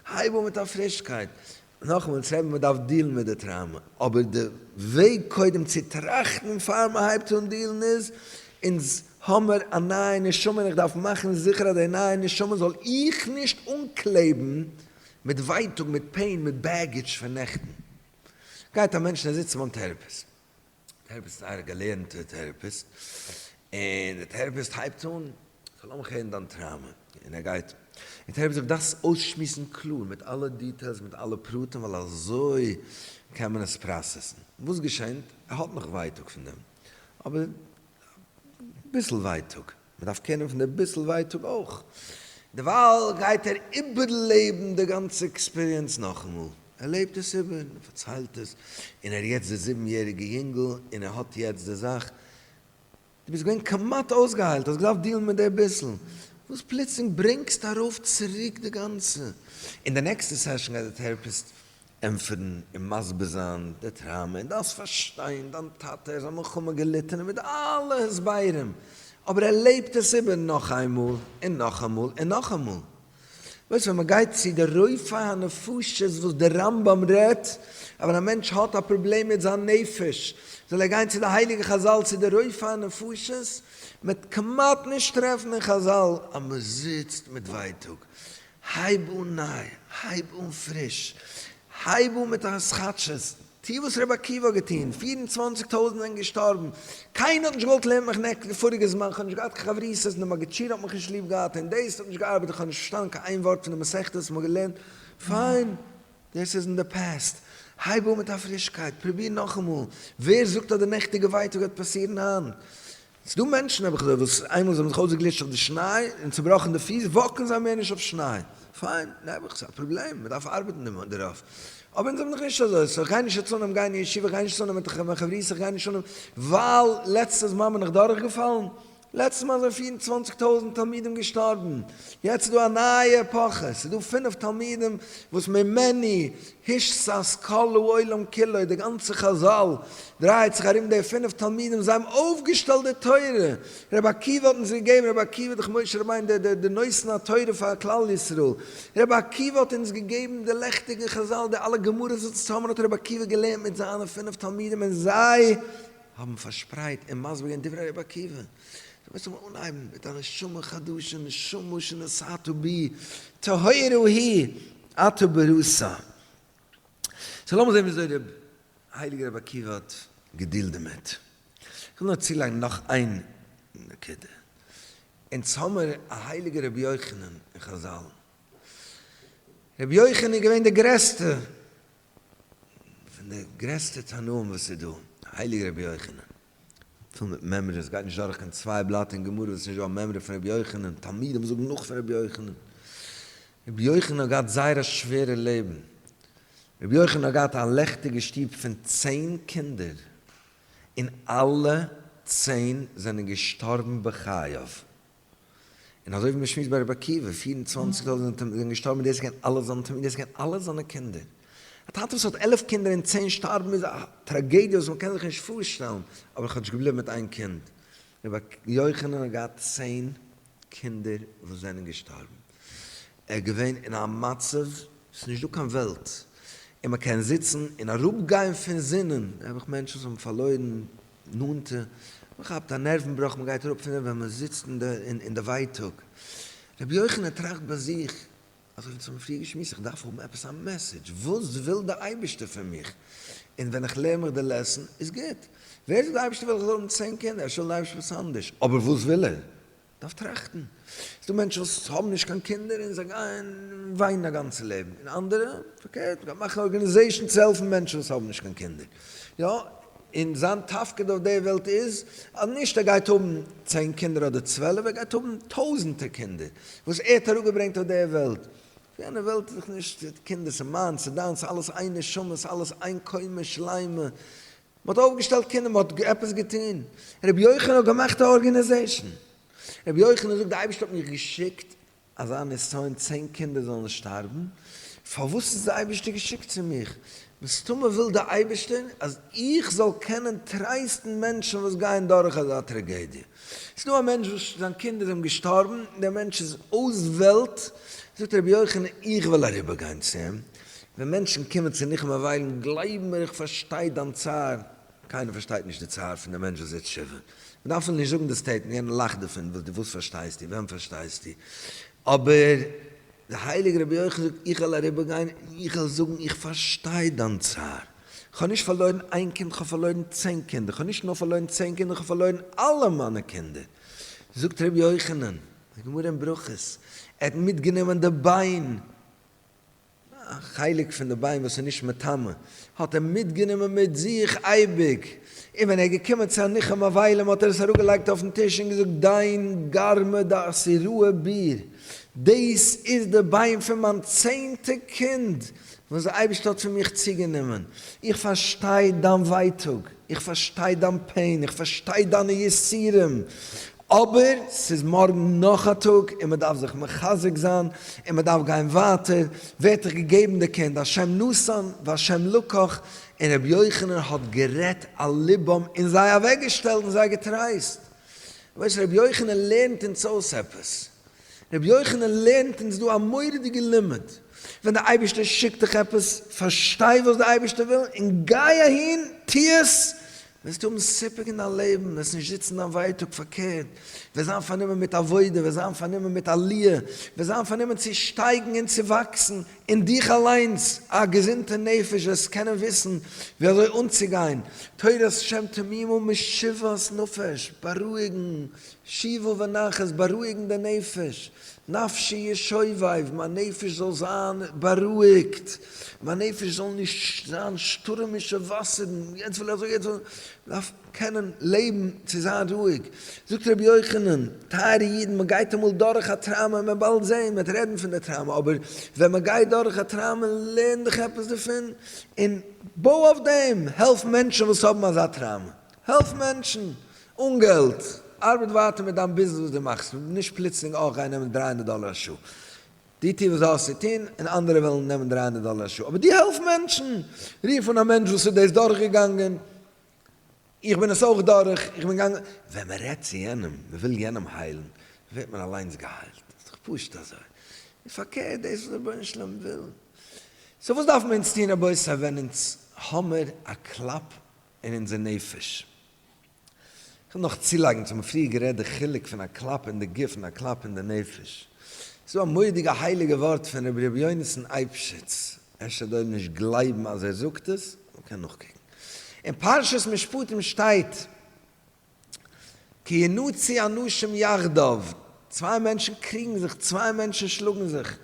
[SPEAKER 1] הייב אן מיט א פרישקייט. נאכאמאל, אונז רעבען מען דארף דילן מיט די טראומא, אבער די וועג קודם צו טראכטן פאר מען הייבט אן דילן איז, אונז האמער א נייע נשמה און איך דארף מאכן זיכער אז די נייע נשמה זאל איך נישט אנקלעבן מיט ווייטאג, מיט פעין, מיט בעגעדזש פון נעכטן. גייט א מענטש און ער זיצט ביים טעראפיסט. טעראפיסט איז אייער געלערנטע טעראפיסט און די טעראפיסט הייבט אן כ'וויל לאמיך הערן דיין טראמע און ער גייט און טעראפיסט זאגט דארפסט עס אויסשמועסן קלאר מיט אלע דיטעילס מיט אלע פרטים ווייל אזוי קען מען עס פראסעסן וואס געשענט ער האט נאך ווייטאג פון דעם אבער אביסל ווייטאג. מען דארף קענען פון די ביסל ווייטאג אויך, דערווייל גייט ער איבערלעבן די גאנצע עקספיריענס נאכאמאל, ער לעבט עס איבער, ער פארציילט עס, און ער איז יעצט דער זיבן יעריגער יונגל, און ער האט יעצט די זאך, דו ביסט געווען כמעט אויסגעהיילט, האסט געדארפט דילן מיט די ביסל, וואס פלוצלינג ברענגסטו ארויף צוריק די גאנצע, אין די נעקסטע סעשאן גייט די טעראפיסט ענטפערן און מסביר זיין די טראמא און דארפסט פארשטיין דיין טאטע ער איז א מלחמה געליטענער מיט אלע הסברים אבער ער לעבט עס איבער נאך איינמאל און נאכאמאל און נאכאמאל וואס ווען מען גייט צו די רופא הנפשות וואס די רמב ם רעדט אז ווען א מענטש האט א פראבלעם מיט זיין נפש זאל ער גיין צו די הייליגע חזל צו די רופא הנפשות מען וועט כמעט נישט טרעפן אין חזל אז מען זיצט מיט ווייטאג הייב אן ניי, הייב אן פריש, הייב אן מיט א התחדשות, טו וואס ר' עקיבא האט געטון, פֿיר און צוואַנציק טויזנט זענען געשטארבן, קיינער האט נישט געוואלט לערנען מיך נעקסט די פאריגע זמן, כ'האב נישט געהאט קיין חברותות, און די מגידשיער האט מיך נישט ליב געהאט, און דאס האט נישט געארבעט, איך האב נישט פארשטאנען קיין איין ווארט פון די מסכת וואס מ'האט געלערנט, פיין, דאס איז אין די פעסט, הייב אן מיט א פרישקייט, פרוביר נאכאמאל, ווער זאגט אז די נעכטיגע ווייטאג וועט פאסירן היינט? ס'דא מענטשן, האב איך געזאגט, וואס איינמאל זיי האבן זיך אויסגעגליטשט אויף די שניי און צעבראכן די פיס, וואקן זיי מער נישט אויף שניי. פיין, נעבעך, ס'איז א פראבלעם, מ'דארף ארבעטן דערויף. אבער אונז האבן דאך נישט אזוי, סאו כ'גיי נישט אצאנעם גיין אין ישיבה, כ'גיי נישט אצאנעם מיט די חברותא, כ'גיי נישט אנעם, ווייל לעצטע זמן בין איך דורכגעפאלן, לעצטע מאל זענען פֿיר און צוואַנציק טויזנט תלמידים געשטארבן, יעצט איז דא א נייע עפאכע, ס'איז דא פֿינף תלמידים וואס ממני הישסס כל העולם כולו, די גאנצע חזל דרייעט זיך ארום די פינף תלמידים, זיי האבן אויפגעשטעלט די תורה, רבי עקיבא האט אונז געגעבן, רבי עקיבא דורך משה רבינו, די די נושאין התורה פאר כלל ישראל, רבי עקיבא האט אונז געגעבן די לעכטיגן חזל, די אלע גמרות וואס צוזאמען האט רבי עקיבא געלערנט מיט זיינע פינף תלמידים און זיי האבן פארשפרייט און מסביר געווען דברי רבי עקיבא, דו מוזט אמאל אנהייבן מיט א נשמה חדשה, נשמה שנשאתו בי טהרה היא. אתא ברוסא. סאו לאמיר זעהן וויאזוי ר' הייליגער רבי עקיבא האט געדילט דערמיט. איך וויל נאר צולייגן נאך איין נקודה. אונז האמיר א הייליגער רבי יוחנן אין חזל. רבי יוחנן איז געווען דער גרעסטער פון די גרעסטע תנאים וואס איז דא. הייליגער רבי יוחנן. פול מיט מעמרי, עס גייט נישט דורך קיין צוויי בלאט אין גמרא וואס איז נישט דא א מעמרי פון רבי יוחנן, תלמידים זאגן נאך פון רבי יוחנן. רבי יוחנן האט געהאט זייער א שווערע לעבן, רבי יוחנן האט געהאט א לעכטיגע שטוב פון צען קינדער, און אלע צען זענען געשטארבן בחייו. און אזוי ווי מען שמועסט ביי ר' עקיבא, פֿיר און צוואַנציק זאלן זיינע תלמידים זענען געשטארבן און דער זקן און אלע זיינע תלמידים זקן און אלע זיינע קינדער. א טאטע וואס האט עלף קינדער און צען שטארבן איז א טראגעדיע וואס מען קען זיך נישט פארשטעלן, אבער כאטש געבליבן מיט איין קינד. רבי יוחנן האט געהאט צען קינדער וואס זענען געשטארבן. ער איז געווען אין א מצב, עס איז נישט דא קיין וועלט, און מען קען זיצן און אראפגיין פון זינען, נעבעך מענטשן וואס האבן פארלוירן נאנטע, מען כאפט א נערוון בראך, מען גייט אראפ פון דעם ווען מען זיצט אין די ווייטאג. רבי יוחנן טראכט ביי זיך, אזוי ווי צו האבן פריער געשמועסט, איך דארף האבן עפעס א מעסעדזש, וואס וויל דער אייבערשטער פון מיך? און ווען איך לערן מיך די לעסן איז גוט. ווער זאגט דער אייבערשטער וויל איך זאל האבן צען קינדער, ער שטעלט די אייבערשטער וואס אנדערש, אבער וואס וויל ער? דארף טראכטן, ס'איז דא מענטשן וואס האבן נישט קיין קינדער און זיי גייען וויינען א גאנצע לעבן, און אנדערע פארקערט, גייען מאכן א ארגאניזעישן צו העלפן מענטשן וואס האבן נישט קיין קינדער, יא, און זיין תפקיד אויף די וועלט איז אז נישט ער גייט האבן צען קינדער אדער צוועלף, ער גייט האבן טויזענטער קינדער וואס ער האט אראפגעברענגט אויף די וועלט, אויף יענע וועלט איז דאך נישט קינדער, ס'איז מיינס, ס'איז דיינס, אלעס איין נשמה, ס'אלעס איין קומה שלימה, מען האט אויפגעשטעלט קינדער, מען האט עפעס געטון, רבי יוחנן האט געמאכט א ארגענעזעישן, רבי יוחנן זאגט די אייבערשטער האט מיך געשיקט אזא נסיון צען קינדער זאלן שטארבן, פארוואס איז די אייבערשטער געשיקט צו מיך, מסתמא וויל די אייבערשטער אז איך זאל קענען טרייסטן מענטשן וואס גייען דורך אזא טראגעדיע, עס איז דא א מענטש וואס זיין קינדער זענען געשטארבן, דער מענטש איז אויס וועלט, זאגט רבי יוחנן איך וויל אריבער גיין צו אים, ווען מענטשן קומען צו נחום וויילן, גלייב מיר איך פארשטיי דיין צער, קיינער פארשטייט נישט די צער פון די מענטש וואס זעט תשובה, מען דארף אים נישט זאגן די סטעיטמענט, יענער לאכט דערפון, וואס דו וואס פארשטייסטו, וועם פארשטייסטו, אבער דער הייליגער רבי יוחאי זאגט, איך וועל אריבערגיין און איך וועל זאגן איך פארשטיי דיין צער, איך האב נישט פארלוירן איין קינד, איך האב פארלוירן צען קינדער, איך האב נישט נאר פארלוירן צען קינדער, איך האב פארלוירן אלע מיינע קינדער, זאגט ר' יוחנן, די גמרא אין ברכות, ער האט מיטגענומען די ביין. א חלק פון די ביין וואס איז נישט מטמא האט ער מיטגענומען מיט זיך אייביג, און ווען ער איז געקומען צו א ניחום אבילים האט ער עס אראפגעלייגט אויפן טיש און געזאגט, דיין גארמע דאסיראה ביר, דאס איז די ביין פון מיין צענטע קינד וואס די אייבערשטער האט פון מיך צוגענומען, איך פארשטיי דיין ווייטאג. איך פארשטיי דיין פעין, איך פארשטיי דיינע יסורים, אבער ס'איז מארגן נאך א טאג און מ'דארף זיך מחזק זיין און מ'דארף גיין ווייטער, ווערט דיך געגעבן די קינד, השם נתן והשם לקח, און רבי יוחנן האט גערעדט על לבם און זיי אוועקגעשטעלט און זיי געטרייסט. ווייסט רבי יוחנן לערנט אונז אויס עפעס, ר' יוחנן לערנט אונז דא א מורא'דיגע לימוד, ווען די אייבערשטער שיקט דיך עפעס, פארשטיי וואס די אייבערשטער וויל און גיי אהין, טו עס, וועסטו האבן סיפוק אין דיין לעבן, וועסט נישט זיצן דיין ווייטאג, פארקערט, וועסט זיין פארנומען מיט עבודה, וועסט זיין פארנומען מיט עליה, וועסט זיין פארנומען צו שטייגן און צו וואקסן אין דיך אליינס, א געזונטע נפש, וועסט קענען וויסן ווי אזוי אנצוגיין, תורת שם תמימה משיבת נפש, בארואיגן, שיווע ונחת, בארואיגן די נפש, נפשי ישוביב, מיין נפש זאל זיין בארואיגט, מיין נפש זאל נישט זיין שטורעמישע וואסערן, יעצט וויל איך אזוי, יעצט וויל איך, מען דארף קענען לעבן צו זיין רואיג. זאגט רבי יוחנן, טייערע אידן, מען גייט אמאל דורך א טראומע, מען וועט באלד זען, מען וועט רעדן פון די טראומע, אבער ווען מען גייט דורך א טראומע, לערן דיך עפעס דערפון, און בוי אויף דעם, העלף מענטשן וואס האבן אזא טראומע, העלף מענטשן אן געלט, ארבעט ווייטער מיט דיין ביזנעס וואס דו מאכסט, נישט פלוצלינג אויך גיין נעמען דרײַ הונדערט דאלער א שעה. דו טו וואס דו האסט צו טון, און אנדערע וועלן נעמען דרײַ הונדערט דאלער א שעה. אבער דו העלף מענטשן, רוף אן א מענטש וואס איז דאס דורכגעגאנגען, איך בין עס אויך דורך, איך בין געגאנגען, ווען מען רעדט צו יענעם, מען וויל יענעם היילן, ווערט מען אליינס געהיילט, איז דאך פשוט אזוי, און פארקערט דאס וואס רבונו של עולם וויל. סאו וואס דארפן אונז טון רבותי ווען אונז האמער א קלאפ אין אונזער נפש. איך וויל נאך צולייגן צו מיר האבן פריער גערעדט די חילוק פון א קלאפ אין די גוף און א קלאפ אין די נפש. ס'איז דא א מורא'דיגע הייליגע ווארט פון רבי ר' יונתן אייבשיץ, אפשר דא אויב נישט גלייבן אז ער זאגט עס, מ'קען נאכקוקן. אין פרשת משפטים שטייט כי ינוצי אנשים יחדיו, צוויי מענטשן קריגן זיך, צוויי מענטשן שלאגן זיך,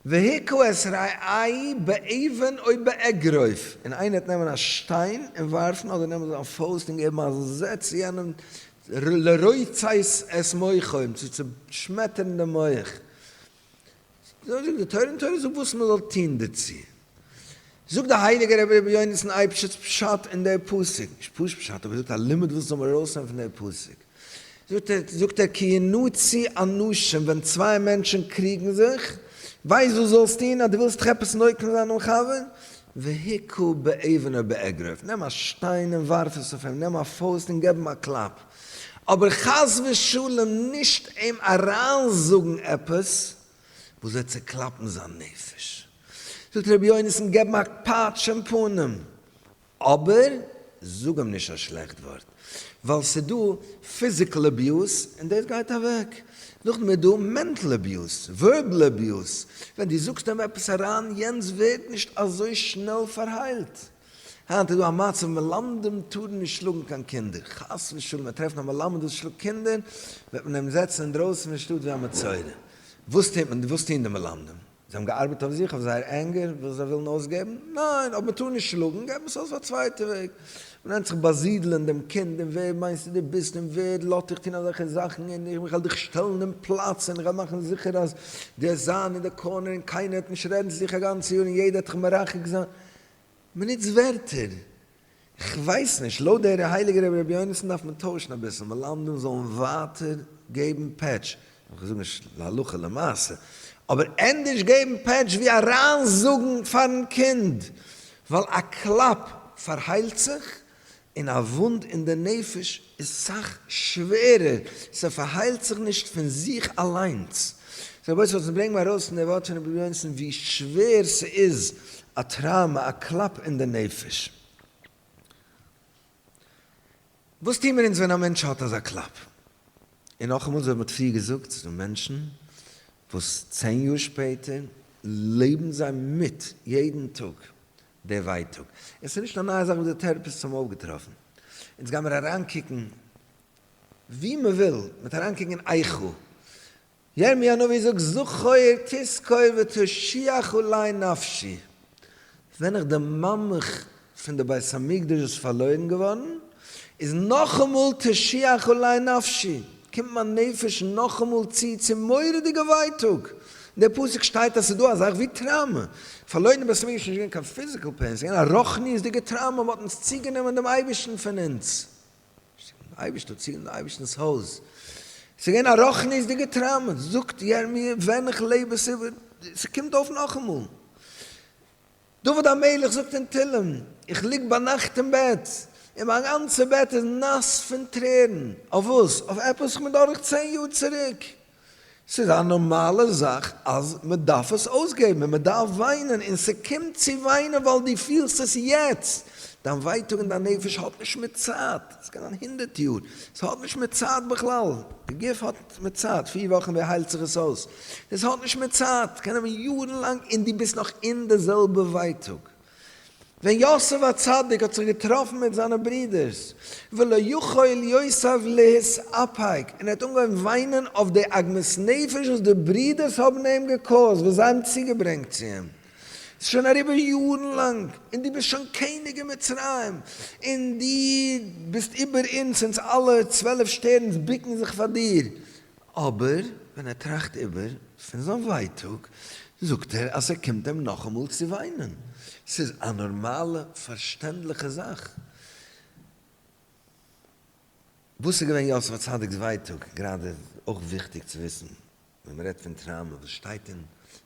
[SPEAKER 1] והיכו את רעי' באבן או באגרוף, און איינער וועט נעמען א שטיין און ווארפן, אדער נעמען זיין פויסט און געבן א זעץ צו יענעם, לרוצץ את מוחו, צו צעשמעטערן דעם מח, זאגט די תורה און תורה זאגט וואס מען זאל טון דערצו. זאגט דער הייליגער רבי רבי יונתן אייבשיץ פשט אין דער פסוק, נישט פשוט פשט, אבער ער זאגט א לימוד וואס זאל מען ארויסנעמען פון דער פסוק. זאגט ער, זאגט ער, כי ינוצי אנשים, ווען צוויי מענטשן קריגן זיך, ווייסט וואס דו זאלסט טון אז דו ווילסט זיך עפעס נוקם זיין דעם חבר? והיכה באבן או באגרוף, נעם א שטיין און ווארף עס אויף אים, נעם א פויסט און געב אים א קלאפ. אבער חס ושלום נישט אים אריינזאגן עפעס וואס וועט צוקלאפן זיין נפש. זאגט ר' יונתן געב אים א פאטש אין פנים, אבער זאג אים נישט א שלעכט ווארט, ווייל ס'איז דא פיזיקל אביוז און דאס גייט אוועק, נאכדעם איז דא מענטל אביוז, ווערבעל אביוז, ווען דו זאגסט אים עפעס אריין, יענץ ווערט נישט אזוי שנעל פארהיילט. היינט איז דא א מצב מלמדים טארן נישט שלאגן קיין קינדער, חס ושלום וועט טרעפן א מלמד וואס שלאגט קינדער וועט מען אים זעצן אינדרויסן פון שטאט ווי א מצורע, וואס טוט מען, וואס טוהן די מלמדים, זיי האבן געארבעט אויף זיך אויף זייער ענגער וואס זיי ווילן אויסגעבן, ניין אויב מען טאר נישט שלאגן געבט מען עס אויס אויף א צווייטע וועג, מען נעמט זיך באזידלען דעם קינד און ווער מיינסטו דו ביסט און ווער לאט דיך טוהן אזעלכע זאכן און איך וועל דיך שטעלן אין פלאץ און איך וועל מאכן זיכער אז דו וועסט זיין אין די קארנער און קיינער וועט נישט רעדן צו דיך א גאנצע יאר און יעדער וועט דיך מרחק זיין, מ'נוצט ווערטער. כ'ווייס נישט, לויט דער הייליגער רבי ר' יונתן דארף מען טוישן אביסל, מלמדים זאלן ווייטער געבן פעטש, כ'זאג נישט להלכה למעשה, אבער ענדערש געבן פעטש ווי אריינזאגן פארן קינד, ווייל א קלאפ פארהיילט זיך און א וואונד אין די נפש איז סאך שווערער, ס'פארהיילט זיך נישט פון זיך אליינס. רבותי זאלסט נישט ברענגן ארויס אין די ווארט פון רבי יונסון ווי שווער ס'איז א טראומא, א קלאפ אין די נפש. וואס טוהן מיר אונז ווען א מענטש האט אזא קלאפ? און נאכאמאל אזוי ווי מ'האט פריער געזאגט, ס'דא מענטשן וואס צען יאר שפעטער לעבן זיי מיט יעדן טאג דער ווייטאג. עס איז נישט א נייע זאך וואס די טעראפיסט האבן אויפגעטראפן. אונז גיימיר אריינקוקן וואו מען וויל, מען וועט אריינקוקן אין איכה. ירמי' הנביא זאגט זכור תזכור ותושיח אולי נפשי. ווען איך דערמאנמיך פון די בית המקדש וואס איז פארלוירן געווארן, איז נאכאמאל תושיח אולי נפשי. קומט מיין נפש נאכאמאל צו צו מורא'דיגע ווייטאג. אין די פסוק שטייט אז ס'איז דא א זאך ווי טראומא. פארלוירן די בית המקדש איז נישט געווען קיין פיזיקעל פעין, ס'איז געווען א רוחניות'דיגע טראומא, מ'האט אונז צוגענומען דעם אייבערשטן פון אונז. דער אייבערשטער האט צוגענומען דעם אייבערשטנ'ס הויז. ס'איז געווען א רוחניות'דיגע טראומא. זאגט ירמי' ווען איך לעב איז איבער. ס'קומט אויף נאכאמאל. דוד המלך זאגט אין תהלים, איך ליג ביינאכט אין בעט, און מיין גאנצע בעט איז נאס פון טרערן, אויף וואס? אויף עפעס וואס מ'איז דורך צען יאר צוריק? ס'איז א נארמאלע זאך אז מ'דארף עס אויסגעבן, און מ'דארף וויינען, און ס'קומט צו וויינען ווייל דו פילסט עס יעצט, דיין ווייטאג אין דיין נפש האט נישט מיט צייט, ס'קען זיין הונדערט יאר, ס'האט נישט מיט צייט בכלל, די גוף האט. ס'איז מיט צייט, פיר וואכן ווי היילט זיך עס אויס? דאס האט נישט מיט צייט, קען נעמען יארן לאנג און דו ביסט נאך אין די זעלבע ווייטאג. ווען יוסף הצדיק האט זיך געטראפן מיט זיינע ברידערס, ולא יכול יוסף להתאפק, און ער האט אנגעהויבן וויינען אויף די עגמת נפש וואס די ברידערס האבן אים געקאוזט, וואס זיי האבן צוגעברענגט צו אים, ס'איז שוין אריבער יארן לאנג, און דו ביסט שוין קעניג אין מצרים, און דו ביסט איבער אונדז, אונדז אלע צוועלף שטערנס בוקן זיך פאר דיר. אבער ווען ער טראכט איבער פון זיין ווייטאג, זאגט ער אז ס'קומט אים נאכאמאל צו וויינען. ס'איז א נארמאלע, פארשטענדליכע זאך. וואס איז געווען יוסף הצדיק'ס ווייטאג? גראדע אויך וויכטיג צו וויסן. ווען מ'רעדט פון טראמא, וואס שטייט אין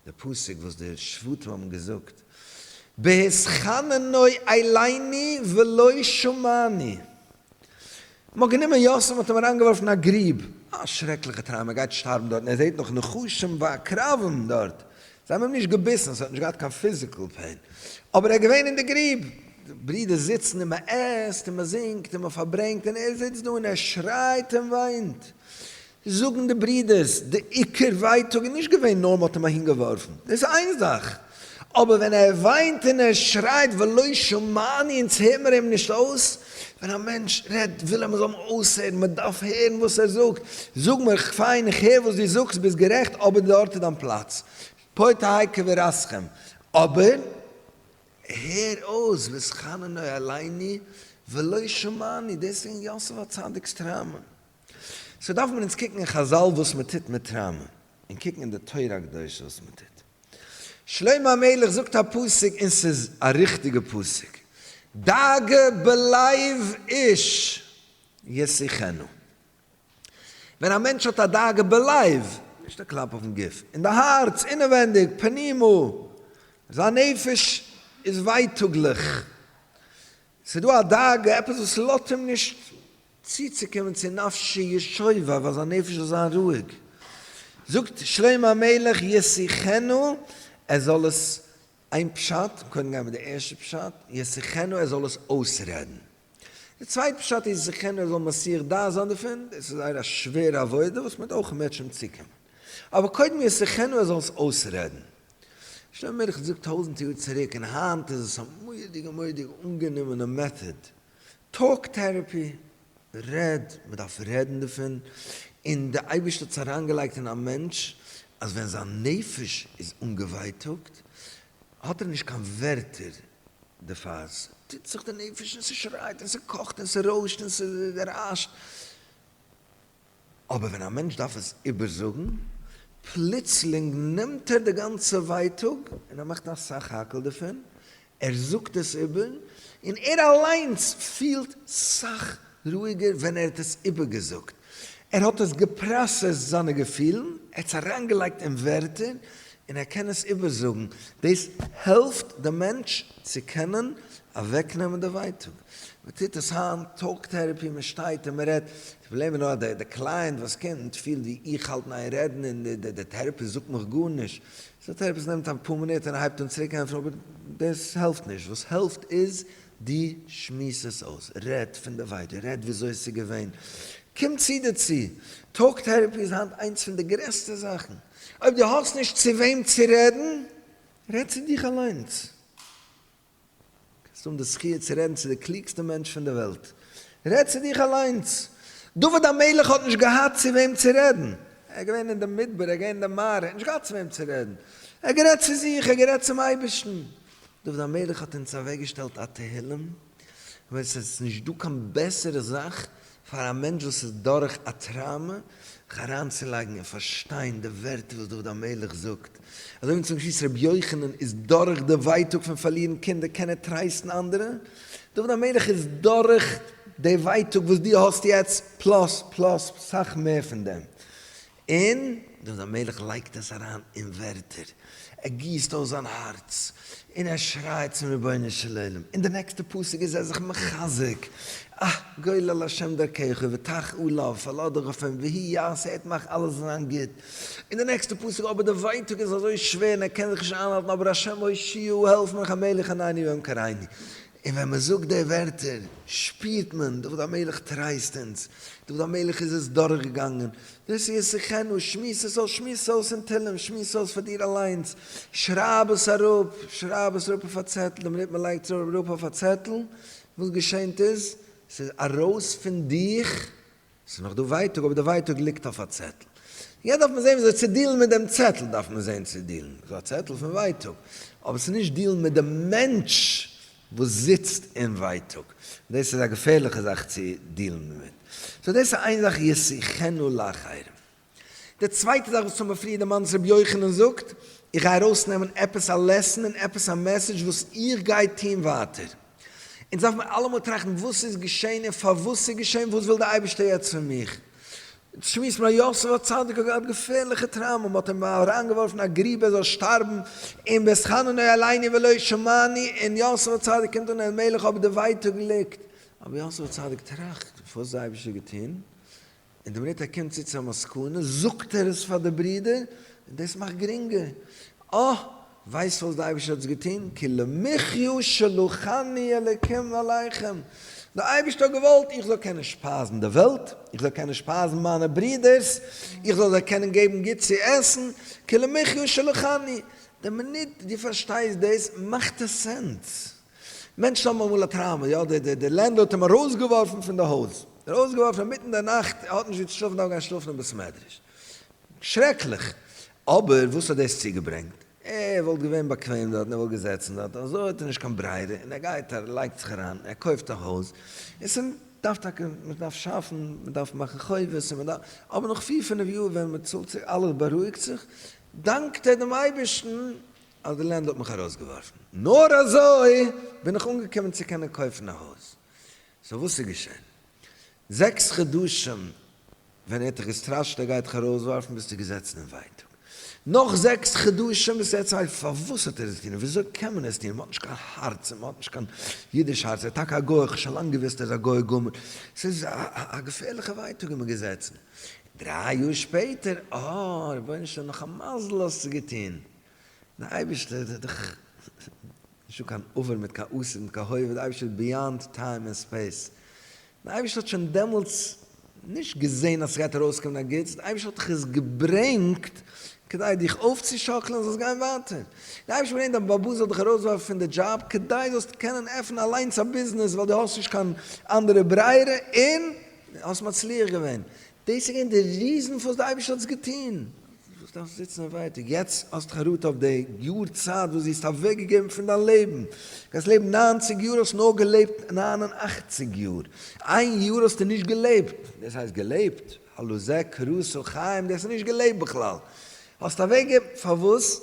[SPEAKER 1] די פסוק וואס די שבטים האבן געזאגט, בהתחננוי אליני ולא שמעני. מ'האט גענומען יוסף מ'האט אים אריינגעווארפן אין א גריב, א שרעקליכע טראמא, ער גייט שטארבן דארט און ער זעט נאך נחשים ועקרבים דארט, זיי האבן אים נישט געביסן, ס'האט נישט געהאט קיין פיזיקעל פעין, אבער ער איז געווען אין די גריב, די ברידער זיצן און מ'עסט און מ'זינגט און מ'פארברענגט און ער זיצט דא און ער שרייט און וויינט, זאגן די ברידערס, די עיקר ווייטאג איז נישט געווען נאר מ'האט אים אהינגעווארפן, דאס איז איין זאך, אבער ווען ער וויינט און ער שרייט ולא שמעני אונז הער מיר אים נישט אויס, ווען א מענטש רעדט וויל ער מ'זאל אים אויסהערן, מ'דארף הערן וואס ער זאגט, זאג מיר, פיין איך הער וואס דו זאגסט, ביסט גערעכט, אבער דארט איז דיין פלאץ, פה תהי' קברתכם, אבער הער אויס וזכרנו עלינו ולא שמעני, דאס איז געווען יוסף הצדיק'ס טראומא. סאו דארף מען אונז קוקן אין חזל וואס מען טוט מיט טראמא, און קוקן אין די תורה הקדושה וואס מען טוט. שלמה המלך זאגט א פסוק און ס'איז א ריכטיגע פסוק, דאגה בלב איש ישיחנו. ווען א מענטש האט א דאגה בלב, נישט א קלאפ אויפן גוף, אין די הארץ, אינעווענדיג, פנימה, זיין נפש איז ווייטאגליך, ס'דא א דאגה, עפעס וואס לאזט אים נישט צוצוקומען צו נפשו ישובה, ווייל זיין נפש זאל זיין רואיג, זאגט שלמה המלך ישיחנו, ער זאל עס, איין פשט, קודם גייען מיט די ערשטע פשט, ישיחנו ער זאל עס אויסרעדן, די צווייטע פשט איז ישיחנו ער זאל מסיח דעת זיין דערפון, דאס איז זייער א שווערע עבודה וואס מ'וועט אויך מער צום צוקומען, אבער קודם ישיחנו ער זאל עס אויסרעדן. שלמה המלך האט געזאגט טויזנט יאר צוריק און היינט איז עס א מורא'דיגע מורא'דיגע אנגענומענע מעטאד, טאלק טערעפי, רעד, מען דארף רעדן דערפון, און דער אייבערשטער האט עס אריינגעלייגט אין א מענטש אז ווען זיין נפש איז אנגעווייטאגט האט ער נישט קיין ווערטער דערפאר, עס טוט זיך די נפש און ס'שרייט און ס'קאכט און ס'רוישט און ס'ריישט, אבער ווען א מענטש דארף עס איבערזאגן, פלוצלינג נעמט ער די גאנצע ווייטאג און ער מאכט אסאך האקעל דערפון, ער זאגט עס איבער, און ער אליינס פילט סאך רואיגער ווען ער האט עס איבערגעזאגט, ער האט עס געפראסעסט זיינע געפילן, ער האט עס אריינגעלייגט אין ווערטער, און ער קען עס איבערזאגן, דאס העלפט דעם מענטש צו קענען אוועקנעמען די ווייטאג. מען טוט עס היינט, טאלק טערעפי, מען שטייט און מען רעדט, די פראבלעם איז נאר אז דער קלייענט וואס קומט פילט ווי איך האלט אין איין רעדן און דער טערעפיסט זאגט מיך גארנישט, סאו דער טערעפיסט נעמט א פאר מינוט און הייבט אן צוריק ענטפערן, אבער דאס העלפט נישט, וואס העלפט איז דו שמועס עס אויס, רעד פון די ווייטאג, רעד וויאזוי עס איז געווען, קום צו דערצו, טאלק טערעפי איז היינט איינס פון די גרעסטע זאכן. אויב דו האסט נישט צו וועם צו רעדן, רעד צו דיך אליינס. קענסט האבן די זכי' צו רעדן צו די קלוגסטע מענטש פון די וועלט. רעד צו דיך אליינס. דוד המלך האט נישט געהאט צו וועם צו רעדן. ער איז געווען אין די מדבר, ער איז געווען אין די מערה, ער האט נישט געהאט צו וועם צו רעדן. ער האט גערעדט צו זיך, ער האט גערעדט צום אייבערשטן. דוד המלך האט אונז אוועקגעשטעלט א תהילים. ווען עס איז נישט דא קיין בעסערע זאך פאר א מענטש וואס איז דורך א טראומע זיך אריינצולייגן און פארשטיין די ווערטער וואס דוד המלך זאגט, אזוי ווי צום שליס רבי יוחנן איז דורך די ווייטאג פון פארלירן קינדער קען ער טרייסטן אנדערע, דוד המלך איז דורך די ווייטאג וואס דו האסט יעצט פלאס פלאס סאך מער פון דעם. און דוד המלך לייגט עס אריין אין ווערטער, ער גיסט אויס זיין הארץ, און ער שרייט צום רבונו של עולם, און די נעקסטע פסוק איז ער זיך מחזק, אה, גולל השם דרכך ותח א לב, פאל אדורך אויף אים, והי' יעשה את מעך אלעס זאל זיין גוט, און די נעקסטע פסוק, אבער די ווייטאג איז אזוי שווער און ער קען זיך נישט איינהאלטן, אבער השם הושיעהו, העלף מיך המלך ענני והם קראיני, און ווען מען זאגט די ווערטער שפירט מען, דוד המלך טרייסט אונז, דוד המלך איז עס דורכגעגאנגען, דאס איז שיחנו, שמועס עס אויס, שמועס עס אויס אין תהלים, שמועס עס אויס פאר דיר אליינס, שרייב עס אראפ, שרייב עס אראפ אויף א צעטל, דעם מינוט מען לייגט עס אראפ אויף א צעטל, וואס געשענט איז? ס'איז ארויס פון דיך. ס'איז נאך דא ווייטאג אבער די ווייטאג ליגט אויף א צעטל. יעצט דארף מען זעהן וויאזוי צו דיעלן מיט דעם צעטל, דארף מען זעהן צו דיעלן, ס'איז א צעטל פון ווייטאג, אבער ס'איז נישט דיעלן מיט די מענטש וואס זיצט אין ווייטאג, דאס איז א געפערליכע זאך צו דיעלן דערמיט. סאו דאס איז איין זאך ישיחנו לאחרים. די צווייטע זאך וואס האט מיר פריער דערמאנט איז רבי יוחנן זאגט, איך גיי ארויסנעמען עפעס א לעסן און עפעס א מעסעדזש וואס איך גיי טון ווייטער. אונז דארף מיר אלעמאל טראכטן וואס איז געשען און פארוואס ס'איז געשען, וואס וויל דער אייבערשטער יעצט פון מיך. אונז שמועסן פון א יוסף הצדיק וואס האט געהאט געפערליכע טראומא, מ'האט אים אריינגעווארפן אין א גרוב ער זאל שטארבן, און בעת חננאל עלייני ולא שמעני, און יוסף הצדיק קומט אן אלימלך אבער די ווייטאג ליגט. אבער יוסף הצדיק טראכט, וואס האט דער אייבערשטער געטון? און די מינוט ער קומט צו צו א מסקנא זאגט ער עס פאר די ברודער און דאס מאכט גרינגער. אה! ווייסט וואס די אייבערשטער האט עס געטון? כי למחיו שלחני אלוקים ועליכם. די אייבערשטער האט געוואלט איך זאל קענען שפייזן די וועלט, איך זאל קענען שפייזן מיינע ברודערס, איך זאל זיי קענען געבן גוט צו עסן, כי למחיו שלחני. די מינוט דו פארשטייסט דאס מאכט עס סענס. מענטשן האבן אמאל א טראומא, יא, די די די לענדלארד האט אים ארויסגעווארפן פון די הויז, ארויסגעווארפן אינמיטן די נאכט, ער האט נישט ווי צו שלאפן, דארף גיין שלאפן אין בית מדרש, שרעקליך, אבער וואס האט דאס צוגעברענגט? ער וואלט געווען באקוועם דארט און ער וואלט געזעצן דארט, אזוי האט ער נישט קיין ברירה און ער גייט ער לייגט זיך אריין, ער קויפט א הויז, און ס'איז דארף טאקע מען דארף שאפן, מען דארף מאכן חובות און מען דארף, אבער נאך פיר פינף יאר ווען מען צאלט צוריק אלעס בארואיגט זיך, דאנקט ער דעם אייבערשטן אז די לענד האט מיך ארויסגעווארפן, נאר אזוי בין איך אנגעקומען צו קענען קויפן א הויז. סאו וואס איז געשען? זעקס חדשים ווען ער האט דיך געסטראשעט ער גייט דיך ארויסווארפן ביסטו געזעצן אין ווייטאג, נאך זעקס חדשים ביסטו יעצט היי פארוואס האט ער עס געטון און וויאזוי קען מען עס טון, מען האט נישט קיין הארץ און מען האט נישט קיין אידיש הארץ, ער איז טאקע א גוי, כ'האב שוין לאנג געוואוסט ער איז א גוי גמור, ס'איז א געפערליכע ווייטאג איז מען געזעצן, דריי יאר שפעטער אה רבונו של עולם נאך א מזל האסטו געטון. דער אייבערשטער איז דאך נישטא קיין עבר מיט קיין עתיד מיט קיין הווה, דער אייבערשטער איז ביאנד טיים און ספעיס, דער אייבערשטער האט שוין דעמאלטס נישט געזען אז ס'גייט ארויסקומען א גוטס, דער אייבערשטער האט דיך עס געברענגט כדי דיך אויפצושאקלען אז זאלסט גיין ווייטער, דער אייבערשטער האט געברענגט דיין באבא זאל דיך ארויסווארפן פון די דזשאב כדי זאלסט קענען עפענען אליינס א ביזנעס ווייל דו האסט נישט קיין אנדערע ברירה און האסט מצליח געווען, דאס איז געווען די ריזן פארוואס דער אייבערשטער האט עס געטון. וואס דארפסטו זיצן און ווייטאג? יעצט האסטו חרטה אויף די יאר צייט וואס דו האסט אוועקגעגעבן פון דיין לעבן. דו גייסט לעבן נײַנציק יאר, האסט נאר געלעבט נײַן און אַכציק יאר. איין יאר האסטו נישט געלעבט. דאס הייסט געלעבט? הלא זה קרסו חיים, דאס איז נישט געלעבט בכלל. האסט אוועקגעגעבן. פארוואס?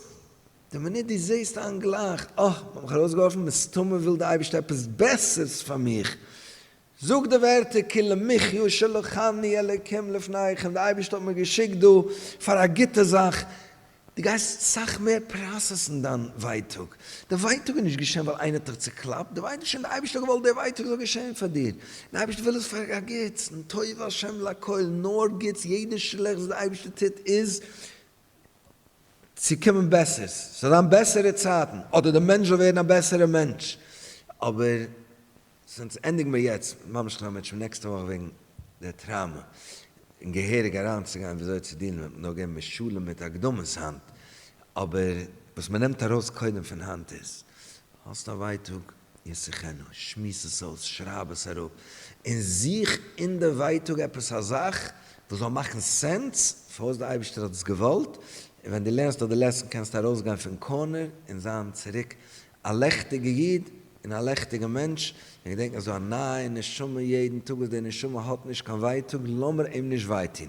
[SPEAKER 1] די מינוט דו זעסט איין גלייך, אה, מ'האט מיך ארויסגעווארפן, מסתמא וויל דער אייבערשטער עפעס בעסערס פאר מיך. זאג די ווערטער כי למחיו שלחני אלוקים לפניכם, די אייבערשטער האט מיר געשיקט דא פאר א גוטע זאך, דו גייסט סאך מער פראסעסן דיין ווייטאג, די ווייטאג איז נישט געשען ווייל איינער האט דיך צוקלאפט, די ווייטאג איז שוין די אייבערשטער האט געוואלט די ווייטאג זאל געשען פאר דיר, די אייבערשטער וויל עס פאר א גוטס, נטויב השם לכל, נאר גוטס, יעדע שלעכטס וואס די אייבערשטער טוט איז צו קומען בעסערס, ס'זאל זיין בעסערע צייטן, אדער די מענטש זאל ווערן א בעסערע מענטש, אבער זינט ענדיגן מיר יעצט ממש נאר מיט שוין נעקסטע וואך וועגן די טראומע און געהעריג אריינצוגיין וויאזוי צו דילן מיט, נאר געבן מיר שלום מיט הקדמות היינט, אבער וואס מען נעמט ארויס קודם פון היינט איז, האסט א ווייטאג, ישיחנו, שמועס עס אויס, שרייב עס אראפ, און זוך אין די ווייטאג עפעס א זאך וואס זאל מאכן סענס פארוואס דער אייבערשטער האט עס געוואלט, און ווען דו לערנסט אט די לעסן קענסטו ארויסגיין פון קארנער און זיין צוריק א לעכטיגע איד און א לעכטיגע מענטש, און געדענק אזוי א נייע נשמה יעדן טאג וואס די נשמה האט נישט קיין ווייטאג לאמיר אים נישט וויי טון.